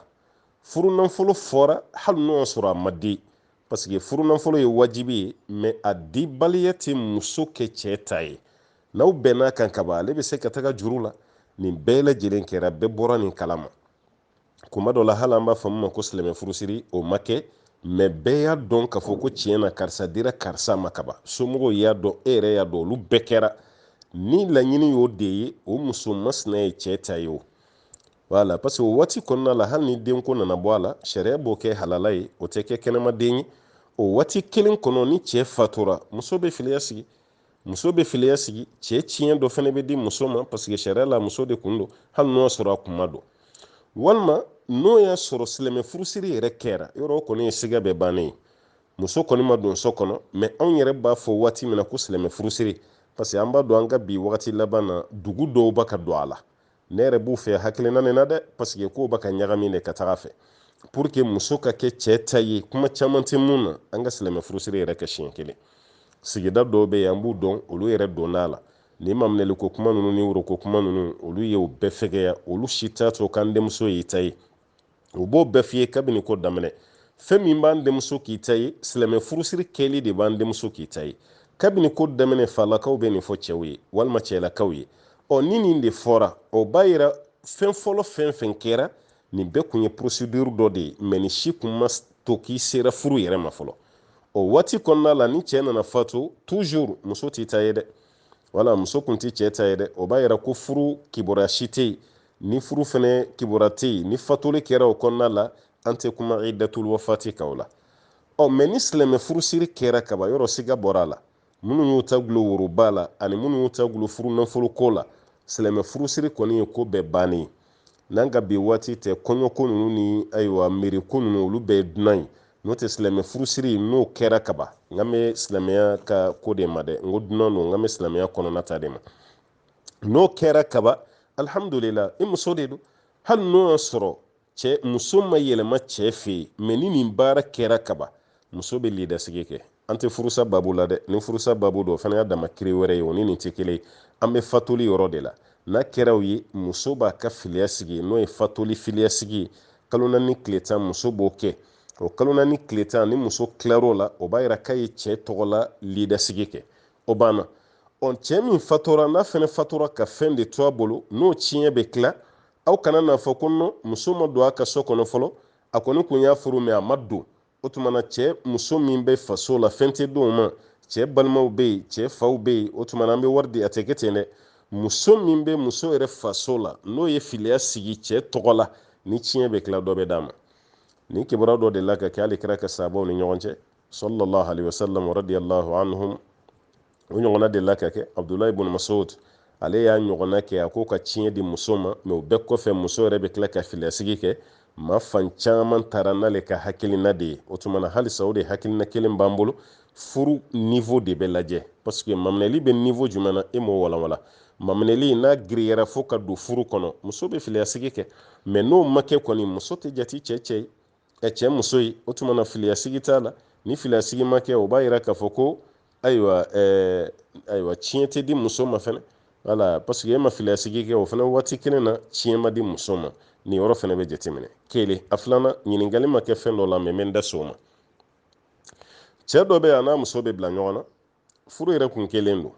furu nanfolo fɔra hali n'o y'a sɔrɔ a ma di parce que furu nanfolo ye wajibi ye mais a dibaliya tɛ muso kɛ cɛɛ ta ye n'aw bɛnn'a kan kaban ale bɛ se ka taga juru la nin bɛɛ lajɛlen kɛra bɛɛ bɔra nin kalama kuma dɔ la hali an b'a fɔ min ma ko silamɛ furusiri o ma kɛ mais bɛɛ y'a dɔn k'a fɔ ko tiɲɛ na karisa dira karisa ma kaban somɔgɔw y'a dɔn e yɛrɛ y'a dɔn olu bɛɛ kɛra ni laɲini y'o de ye o muso masina ye cɛ ta ye o voilà parce que o waati kɔnɔna la hali ni denko nana bɔ a la sariya b'o kɛ halala ye o tɛ kɛ kɛnɛmaden ye o waati kelen kɔnɔ ni cɛ fatura muso bɛ filiya sigi muso bɛ filiya sigi cɛ tiɲɛ dɔ fana bɛ di muso ma parce que sariya la muso de kun don hali n'o y'a sɔrɔ a kun ma don walima n'o y'a sɔrɔ silamɛ furusiri yɛrɛ kɛra yɔrɔ o kɔni ye siga bɛɛ bannen ye muso kɔni ma don so kɔnɔ mais anw yɛrɛ b'a fɔ waati min na ko silamɛ furusiri parce que an b'a dɔn an ka bi wagati laban na dugu dɔw bɛ ka don a la ne yɛrɛ b'u fɛ hakilina nin na dɛ parce que k'o bɛ ka ɲagami de ka taga a fɛ pour que muso ka kɛ cɛ ta ye kuma caman tɛ mun na an ka silamɛ furusiri yɛrɛ kɛ siɲɛ kelen sigida dɔw bɛ yen an b'u dɔn olu yɛrɛ donna a la ni maminɛli ko kuma ninnu ni woro ko kuma ninnu olu ye o bɛɛ fɛgɛya olu si t'a to k'an denmuso y'i ta ye o b'o bɛɛ f'i ye kabini ko daminɛ fɛn min b'an denmuso k'i ta ye silamɛ furusiri kɛli de b'an denmuso k'i ta ye kabini ko daminɛ falakaw bɛ nin fɔ cɛw ye walima cɛlakaw ye ɔ ni nin de fɔra o b'a yira fɛn fɔlɔ fɛn fɛn kɛra nin bɛɛ kun ye procédure dɔ de ye mais nin si kun ma to k'i sera furu yɛrɛ ma fɔlɔ o waati kɔnɔna la ni cɛɛ nana fatu toujours muso t'i ta ye dɛ wala muso kun tɛ cɛ ta ye dɛ o b'a yira ko furu kibaruya si tɛ yen ni furu fɛnɛ kibaruya tɛ yen ni fatuli kɛra o kɔnɔna la an tɛ kuma iddatul wafati kan o la ɔ mais ni silamɛ furusiri kɛra kaban yɔrɔ siga bɔra a la minnu y'u ta gulo woroba la ani minnu y'u ta gulo furu nafolo ko la silamɛ furusiri kɔni ye ko bɛɛ bannen ye n'an ka bi waati tɛ kɔɲɔko ninnu ni ayiwa mɛriko ninnu olu bɛɛ ye dunan ye n'o tɛ silamɛ furusiri n'o kɛra kaban n kan bɛ silamɛya ka ko de ma dɛ n ko dunan don n kan bɛ silamɛya kɔnɔna ta de ma n'o kɛra kaban alhamdulillah i muso de don hali n'o y'a sɔrɔ cɛ muso ma yɛlɛma cɛ fɛ yen mɛ ni nin baara kɛra kaban muso bɛ lidasigi kɛ an tɛ furusa babu la dɛ ni furusa babu don o fana y'a dama kiri wɛrɛ ye o ni nin tɛ kelen ye an bɛ fatuli yɔrɔ de la n'a kɛra o ye muso b'a ka filiya sigi n'o ye fatuli filiya sigi ye kalo naani tile tan muso b'o kɛ o kalo naani tile tan ni muso tilar'o la o b'a yira k'a ye cɛ tɔgɔ la lidasigi kɛ o banna ɔ cɛ min fatura n'a fana fatura ka fɛn de to a bolo n'o tiɲɛ bɛ tila aw kana n'a fɔ ko non muso ma don a ka so kɔnɔ fɔlɔ a kɔni kun y'a furu mɛ a ma don o tuma na cɛ muso min bɛ faso la fɛn tɛ d'o ma cɛ balimaw bɛ yen cɛ faw bɛ yen o tuma na an bɛ wari di a tɛ kɛ ten dɛ muso min bɛ muso yɛrɛ faso la n'o ye filiya sigi cɛ tɔgɔ la ni tiɲɛ bɛ tila dɔ bɛ d'a ma nin kibaruya dɔ delila ka kɛ hali kira ka sahabaw ni ɲɔgɔn cɛ sallallahu alaihi wasallam radiyallahu anhum o ɲɔgɔnna delila ka kɛ abudulayi bun masud ale y'a ɲɔgɔnna kɛ a k'o ka tiɲɛ di muso ma mɛ o bɛɛ kɔfɛ muso yɛrɛ bɛ tila ka filiyasigi kɛ maa fan caman taara n'ale ka hakilina de ye o tuma na halisa o de hakilina kelen b'an bolo furu nivo de bɛ lajɛ paseke maminɛli bɛ nivo jumɛn na e m'o walanwala maminɛli n'a giriyara fo ka don furu kɔnɔ muso bɛ filiyasigi kɛ mɛ n'o ma kɛ kɔni muso tɛ jati cɛ cɛ ye cɛ muso ye o tuma na filiya sigi t'a la ni filiya sigi ma kɛ o b'a yira k'a fɔ ko ayiwa ɛɛ ayiwa tiɲɛ tɛ di muso ma fɛnɛ wala paseke e ma filiya sigi kɛ o fana waati kelen na tiɲɛ ma di muso ma nin yɔrɔ fana bɛ jateminɛ kelen a filanan ɲininkali ma kɛ fɛn dɔ la mɛ n bɛ n da s'o ma cɛ dɔ bɛ yen a n'a muso bɛ bila ɲɔgɔn na furu yɛrɛ kun kɛlen don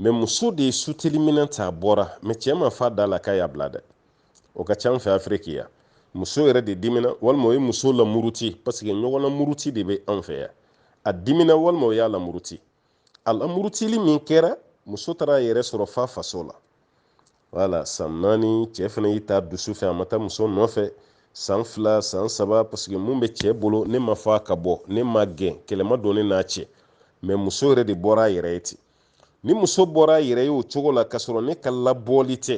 mɛ muso de ye suteli minɛn ta a bɔra mɛ cɛ m'a f'a da la k'a y'a bila dɛ o ka ca an fɛ afiriki yan muso yɛrɛ de dimina walima o ye muso lamuruti paseke ɲɔgɔn lamuruti de bɛ an fɛ yan a dimina walima o y'a lamuruti a lamurutili min kɛra muso taara a yɛrɛ sɔrɔ f'a faso la wala san naani cɛ fana y'i ta dusu fɛ a ma taa muso nɔfɛ san fila san saba parce que mun bɛ cɛ bolo ne m'a fɔ a ka bɔ ne m'a gɛn kɛlɛ ma don ne n'a cɛ mɛ muso yɛrɛ de bɔra a yɛrɛ ye ten ni muso bɔra a yɛrɛ ye o cogo la k'a sɔrɔ ne ka labɔli tɛ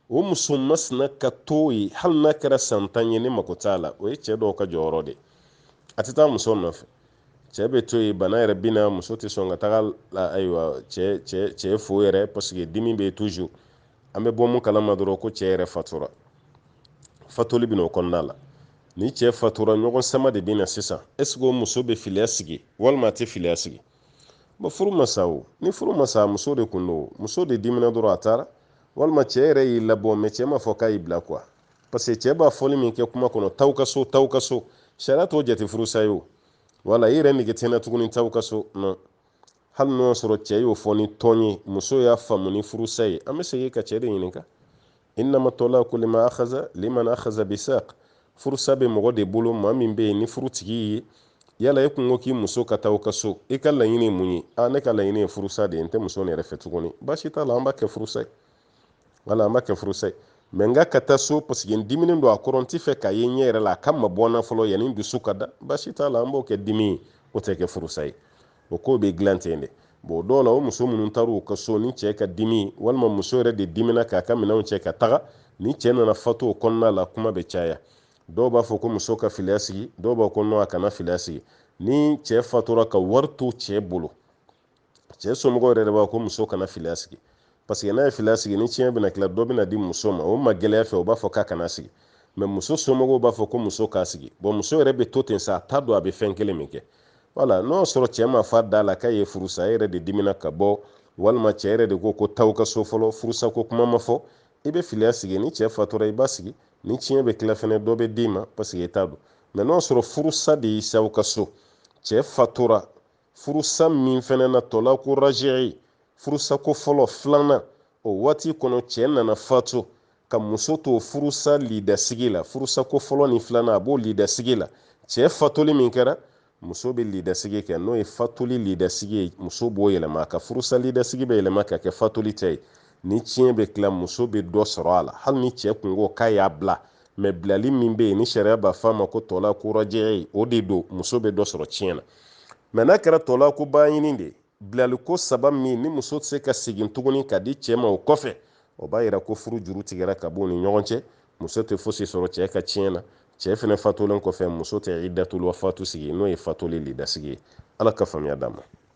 o muso masina ka to yen hali n'a kɛra san tan ye ne mako t'a la o ye cɛ dɔw ka jɔyɔrɔ de a tɛ taa muso nɔfɛ cɛ bɛ to yen bana yɛrɛ bɛ na muso tɛ sɔn ka taga ayiwa cɛ cɛ cɛ fo yɛrɛ paseke dimi bɛ tuju an bɛ bɔ mun kalama dɔrɔn ko cɛ yɛrɛ fatura fatuli bɛ n'o kɔnɔna la ni cɛ fatura ɲɔgɔn sama de bɛ na sisan ɛseke o muso bɛ filiya sigi walima a tɛ filiya sigi bon furu ma sa o ni furu ma sa muso de kun don muso de dimina dɔrɔn a taara walima cɛ yɛrɛ y'i labɔ mɛ cɛ m'a fɔ k'a y'i bila kuwa parce que cɛ b'a fɔli min kɛ kuma kɔnɔ t'aw ka so t'aw ka so sariya t'o jate furusa ye o wala i yɛrɛ nege tɛ n na tuguni t'aw ka so non hali n'o y'a sɔrɔ cɛ y'o fɔ ni tulon ye muso y'a faamu ni furusa ye an bɛ segin ka cɛ de ɲininka innama tɔlaku lima akhaza liman akhaza bisaq furusa bɛ mɔgɔ de bolo maa min bɛ yen ni furu tigi ye yala e kun ko k'i muso ka taa o ka so i ka laɲini ye mun ye a ne ka laɲini ye furusa de ye n tɛ muso nin yɛrɛ fɛ tuguni baasi t'a la an b'a kɛ furusa ye wala an b'a kɛ furusa ye mɛ n k'a ka taa so paseke n diminen don a kɔrɔ n t'a fɛ k'a ye n ɲɛ yɛrɛ la a ka mabɔ n na fɔlɔ yanni n dusu ka da baasi t'a la an b'o kɛ dimi ye o tɛ kɛ furusa ye o ko bɛ dilan ten de bon dɔw la o muso minnu taara u ka so ni cɛ ka dimi walima muso yɛrɛ de dimina k'a ka minɛnw cɛ ka taga ni cɛ nana fatu o kɔnɔna la kuma bɛ caya dɔw b'a fɔ ko muso ka filiya sigi dɔw b'a ko non a kana filiya sigi ni cɛ fatura ka wari to cɛ bolo cɛ somɔgɔw yɛrɛ de b'a ko muso kana filiya sigi paseke n'a ye filiya sigi ni tiɲɛ bɛna tila dɔ bɛna di muso ma o ma gɛlɛya fɛ o b'a fɔ k'a kana sigi mɛ muso somɔgɔw b'a fɔ ko muso k'a sigi bon muso yɛrɛ bɛ to ten sa a t'a dɔn a bɛ fɛn kelen min kɛ wala n'o y'a sɔrɔ cɛ m'a f'a da la k'a y'i furusa e yɛrɛ de dimina ka bɔ walima cɛ yɛrɛ de ko ko t'aw ka so fɔlɔ furusa ko kuma ma fɔ i bɛ filiya sigi ni cɛ fatura i b'a sigi ni tiɲɛ bɛ tila fɛnɛ dɔ bɛ d'i ma paseke i t'a dɔn mɛ n'o y'a sɔrɔ furusa de y'i s'aw ka so cɛ fatura furusa min fɛnɛ na tɔlaku raji'i furusa ko fɔlɔ filanan o waati kɔnɔ cɛ nana fatu ka muso to furusa lidasigi la furusa ko fɔlɔ ni filanan a b'o lidasigi la cɛ fatuli min kɛra muso bɛ lidasigi kɛ n'o ye fatuli lidasigi ye muso b'o yɛlɛma a ka furusa lidasigi bɛ yɛlɛma ka kɛ fatuli ta ye ni tiɲɛ bɛ tila muso bɛ dɔ sɔrɔ a la hali ni cɛ kun ko k'a y'a bila mɛ bilali min bɛ yen ni sariya b'a fɔ a ma ko tɔlaku raji'i o de don muso bɛ dɔ sɔrɔ tiɲɛ na mɛ n'a kɛra tɔlaku baɲini de bilali ko saba min ni muso tɛ se ka segin tuguni ka di cɛ ma o kɔfɛ o b'a yira ko furu juru tigɛra ka b'u ni ɲɔgɔn cɛ muso tɛ fosi sɔrɔ cɛ ka tiɲɛ na cɛ fɛnɛ fatulen kɔfɛ muso tɛ iddatul wafatu sigi n'o ye fatuli lidasigi ye ala ka faamuya d'an ma